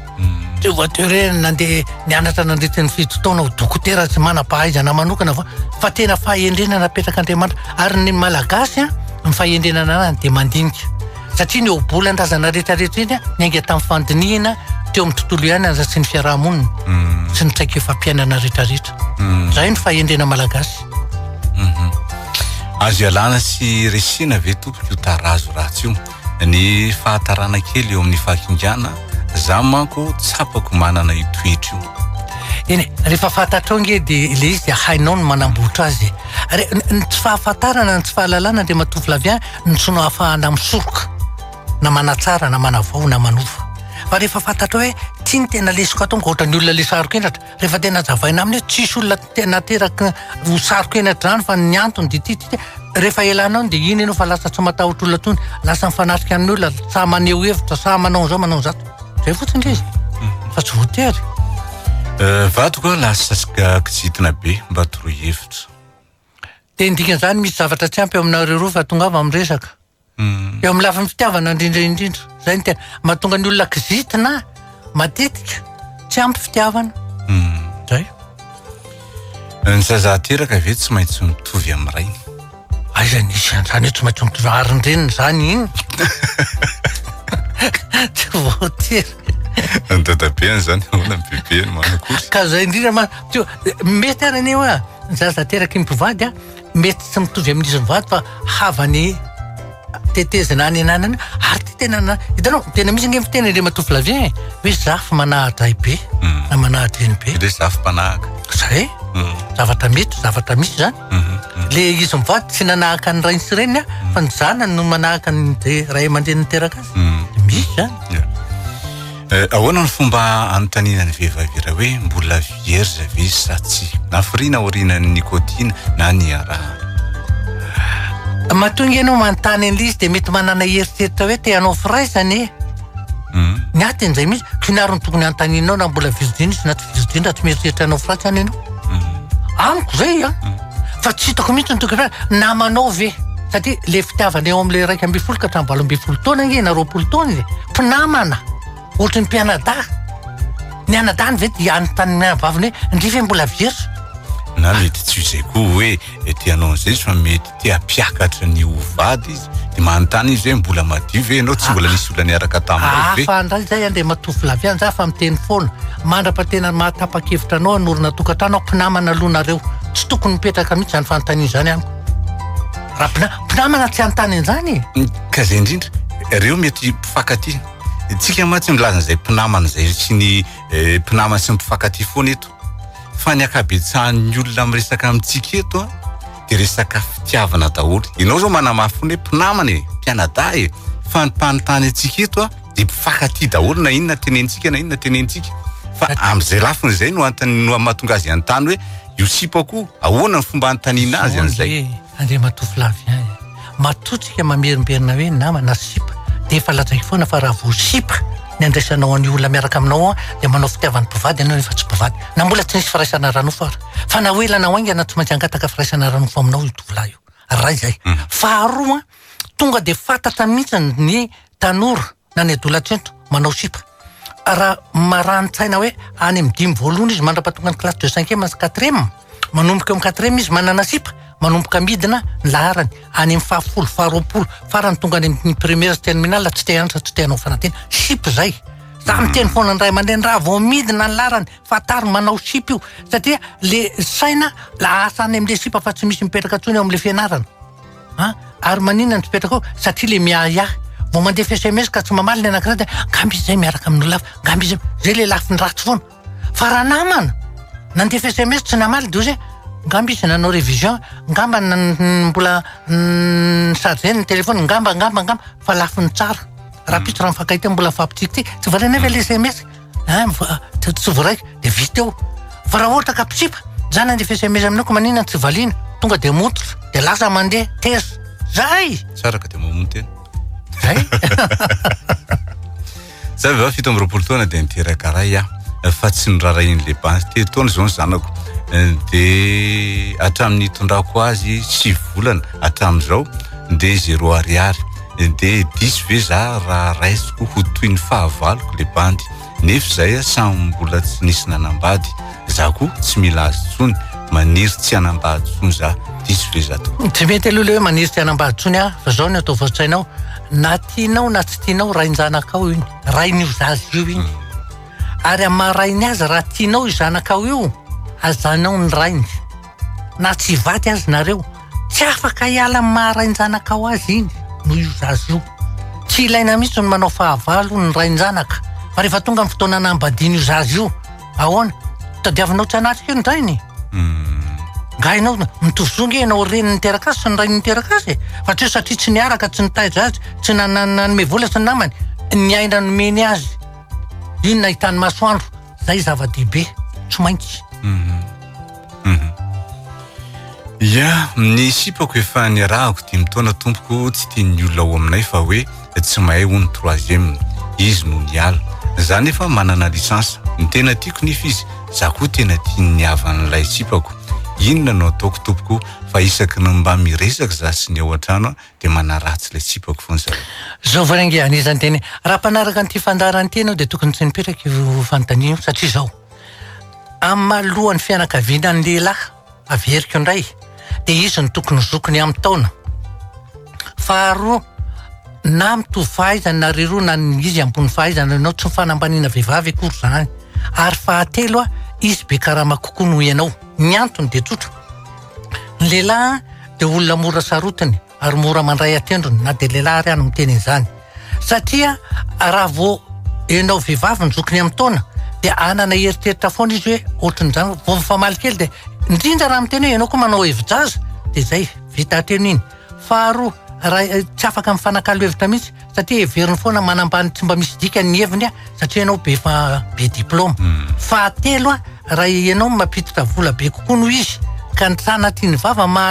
Tsy voatery hoe nandeha nianatra nandritra ny fito taona ho dokotera sy manam-pahaizana manokana fa fa tena fahendrena napetrak'Andriamanitra ary ny Malagasy an ny fahendrena ananany dia mandinika satria ny ohabolan-drazana rehetrarehetra iny niainga tamin'ny fandinihina teo amin'ny tontolo iainana sy ny fiarahamonina mm. sy ny traikefam-piainana rehetrarehetra mm. zay ny fahendrena malagasy mhm. azo ialana sy resina ve tompoko io tarazo ratsy io ny fahatarana kely eo amin'ny fahakingana za manko tsapako manana io toetra io eny e, rehefa fantatrao nge dia ilay izy dia hainao ny manambotra azy e. Re- n- ny tsy fahafantarana ny tsy fahalalana dia matovy lavia ny tsy nahafahana misoroka na manatsara na manavao na manova fa rehefa fantatrao hoe ity ny tena lesoko atao ankoatra ny olona lesarokendratra Rehefa tena hazavaina aminy hoe tsisy olona te- nateraky ho saroka eny an-drano fa ny antony dia ity, ity, ity. Rehefa elanao dia iny ianao fa lasa tsy matahotra olona intsony, lasa mifanatrika amin'olona, sahy maneho hevitra, sahy manao an'izao manao an'izato. Izay fotsiny ilay izy. Fa tsy voatery. Eh, vadiko aho lasa s- ga- kizitina be mba toroy hevitra. Dia ny dikan'izany misy zavatra tsy ampy eo aminareo roa fa tongava amin'ny resaka. Eo amin'ny lafiny fitiavana indrindra indrindra, izay no tena mahatonga ny olona kizitina matetika tsy ampy fitiavana. Izay. Hmm. Ny zaza ateraka ve tsy maintsy mitovy amin'ny rainy? Aiza nisy an'izany hoe tsy maintsy mitovy arin-dreniny izany iny? Tsy voatery. Ny dadabeany izany ahoana ny bebeny manakory? Ka izay indrindra ma- teo- mety ary anie hoa ny zaza ateraky ny mpivady a, Mety tsy mitovy amin'izy mivady fa havany tetezana any ananany ary ty tena na hitanao tena misy ange miteny le matoa flavien e hoe zafy manahadray be hmm. na manahadreny be le zafy mpanahaka zay hmm. zavatra mety zavatra misy zany hmm, le izy mivady tsy nanahaka ny rainy sy reniny fa ny zanany no manahaka ny ray aman-dreny niteraka azy misy zany Eh, ahoana ny fomba anontaniana ny vehivavy iray hoe mbola vierge ve izy sa tsia? Nafiriana aorianan'ny nicotine na ny araha. Mahatonga ianao manontany an'ilay izy dia mety manana eritreritra hoe te hanao firaisana e. Hmm. Ny ahy teny izay mihitsy, k'inona ary no tokony hanontanianao na mbola virgin izy na tsy virgin raha tsy mieritreritra hanao firaisana ianao. Hmm. Amiko izay an. Hmm. Fa tsy hitako mihitsy ny tokony namanao ve? Satria ilay fitiavana eo amin'ilay iraika ambin'ny folo ka hatramin'ny valo ambin'ny folo taona ange na roapolo taona e. mpinamana ohatry ny mpianadahy ny anadahiny ve dia anontany ny vaviny hoe ndry ve mbola vierge na mety tsy izay koa hoe ety anao izay fa mety te hampiakatra ny ho vady izy dia manontany izy hoe mbola madio ve ianao tsy mbola nisy olona niaraka taminao ve hafa indray izay an dia matovo lavy any za fa miteny foana mandra-patena mahatapa-kevitra anao hanorina tokantrano aho mpinamana aloha nareo tsy tokony mipetraka mihitsy izany fanontaniana izany amiko Raha mpina- mpinamana tsy hanontany an'izany e! Ny kazay indrindra, ireo mety mpifankatia. Isika mantsy milaza an'izay mpinamana izay sy ny eh, mpinamana sy ny mpifankatia foana eto. Fa ny ankabetsahan'ny olona miresaka amintsika eto an, dia resaka fitiavana daholo. Ianao izao manamafy foana hoe mpinamana e, mpianadahy e. Fa ny mpanontany antsika eto an, dia mpifankatia daholo na inona tenenintsika na inona tenenintsika. Fa amin'izay lafiny izay no antony no mahatonga azy hanontany hoe Io sipa ko ahoana ny fomba anotaniana azy an'izay. Zao anie Andriamatoa Flavien e! Matotrika mamerimberina hoe nama na sipa dia efa lazaiko foana fa raha vao sipa ny andraisanao an'io olona miaraka aminao ao dia manao fitiavany mpivady ianao nefa tsy mpivady na mbola tsy nisy firaisana ara-nofo ary. Fa na ho ela na ho haingana tsy maintsy hangataka firaisana ara-nofo aminao io tovolahy io. Iray izay. Faharoa, tonga dia fantatra mihitsy ny tanora. na ny adolatsento manao sipa raha marani-tsaina hoe any amin'ny dimy voalohany izy mandrapatonga ny classe de cinquième sy quatrième manomboka eo amin'ny quatrième izy manana sipa manomboka midina ny laharany any amin'ny fahafolo faharoapolo farany tonga any amin'ny première sy terminale tsy te hanatra tsy te hanao fanadina sipa izay za miteny foana ny ray aman-dreny raha vao midina ny laharany fantaro manao sipa io satria le saina lasa any amin'le sipa fa tsy misy mipetraka intsony eo amin'le fianarana An, ary maninona no tsy petraka ao? Satria ilay miahiahy. Vao mandefa sms ka tsy mamaly ny anankiray dia angamba izy izay miaraka amin'ny olona hafa, angamba izy izay. Izay ilay lafiny ratsy foana. Fa raha namana, nandefa sms tsy namaly dia ozy hoe angamba izy nanao révision, angamba n- mbola n- chargé ny téléphone, angamba, angamba, angamba. Fa lafiny tsara. Rahampitso raha mifankahita mbola mifampitsikitsiky. Tsy valianay ve ilay sms? Hein mivo- ah, t- tsy voaraiko dia vita eo. Fa raha ohatra ka mpitsipa, zany andefa sms aminao ka maninona no tsy valiana? Tonga dia mototra, dia lasa mandeha, teza. Zay! Tsara ka dia mamono tena. Zay! Za vao fito amby roapolo taona dia niteraka ray aho fa tsy norarahian'le bandy telo taona izao ny zanako Eh, dia hatramin'ny itondrako azy sivy volana hatramin'izao dia zéro ariary Dia diso ve za raha raisiko ho toy ny fahavaloko le bandy Nefa izay samy mbola tsy nisy nanambady Za koa tsy mila azy tsony Maniry tsy hanambady tsony za Diso ve za tompoko? Tsy mety aloha le hoe maniry tsy hanambady tsony aho Fa zao ny atao voatsainao Na tianao na tsy tianao rain-janakao iny Rain'io zaza io iny Ary amin'ny maha rainy azy raha tianao io zanakao io Hajanao ny rainy Na tsy hivady aza nareo, tsy afaka hiala amin'ny maha rain-janakao azy iny noho io zaza io. Tsy ilaina mihitsy ny manao fahavalo ny rain-janaka fa rehefa tonga ny fotoana hanambadiana io zaza io, ahoana? Tadiavinao tsy hanatrika io ny rainy? Nga ianao mitovy zo nge ianao reny niteraka azy sy ny rainy niteraka azy e? Fa tsy hoe satria tsy niaraka, tsy nitaiza azy, tsy nanome vola sy ny namany, ny aina nomeny azy iny nahitany masoandro, zay zava-dehibe, tsy maintsy. Ya, ny sipako efa niarahako dimy taona tompoko tsy tian'ny olona ao aminay fa hoe tsy mahay hono troisième. Izy no niala. Za nefa manana licence. Ny tena tiako nefa izy, za koa tena tian'ny havan'ilay sipako. Inona no ataoko tompoko fa isaky ny mba miresaka za sy ny ao an-trano an de manaratsy ilay sipako foana zareo. Zao vao re ange, anisan'ny teny, raha mpanaraka an'ity fandaharan'ity ianao dia tokony tsy mipetraka io fanontaniana io satria zao. Amin'ny maha lohan'ny fianakaviana ny lehilahy, averiko indray, dia izy no tokony ho zokiny amin'ny taona. Faharoa, na mitovy fahaizana nareo roa na ny izy ambony fahaizana anao, tsy fanambaniana vehivavy akory izany. Ary fahatelo, izy be karama kokoa noho ianao. Ny antony dia tsotra, ny lehilahy dia olona mora sarotiny. ary mora mandray an-tendrony na dia lehilahy ary aza miteny an'izany satria raha vao ianao vehivavy ny zokiny amin'ny taona dia hanana eritreritra foana izy hoe ohatran'izany vao mifamaly kely dia indrindra raha miteny hoe ianao koa manao hevi-jaza dia izay vita hatreny iny faharoa raha eh, tsy afaka mifanakalo hevitra mihitsy satria heveriny foana manambany tsy mba misy dikany ny heviny a satria ianao be fa be diplôma hmm. fahatelo a raha ianao mampiditra vola be kokoa noho izy ka ny sanatry ny vava ma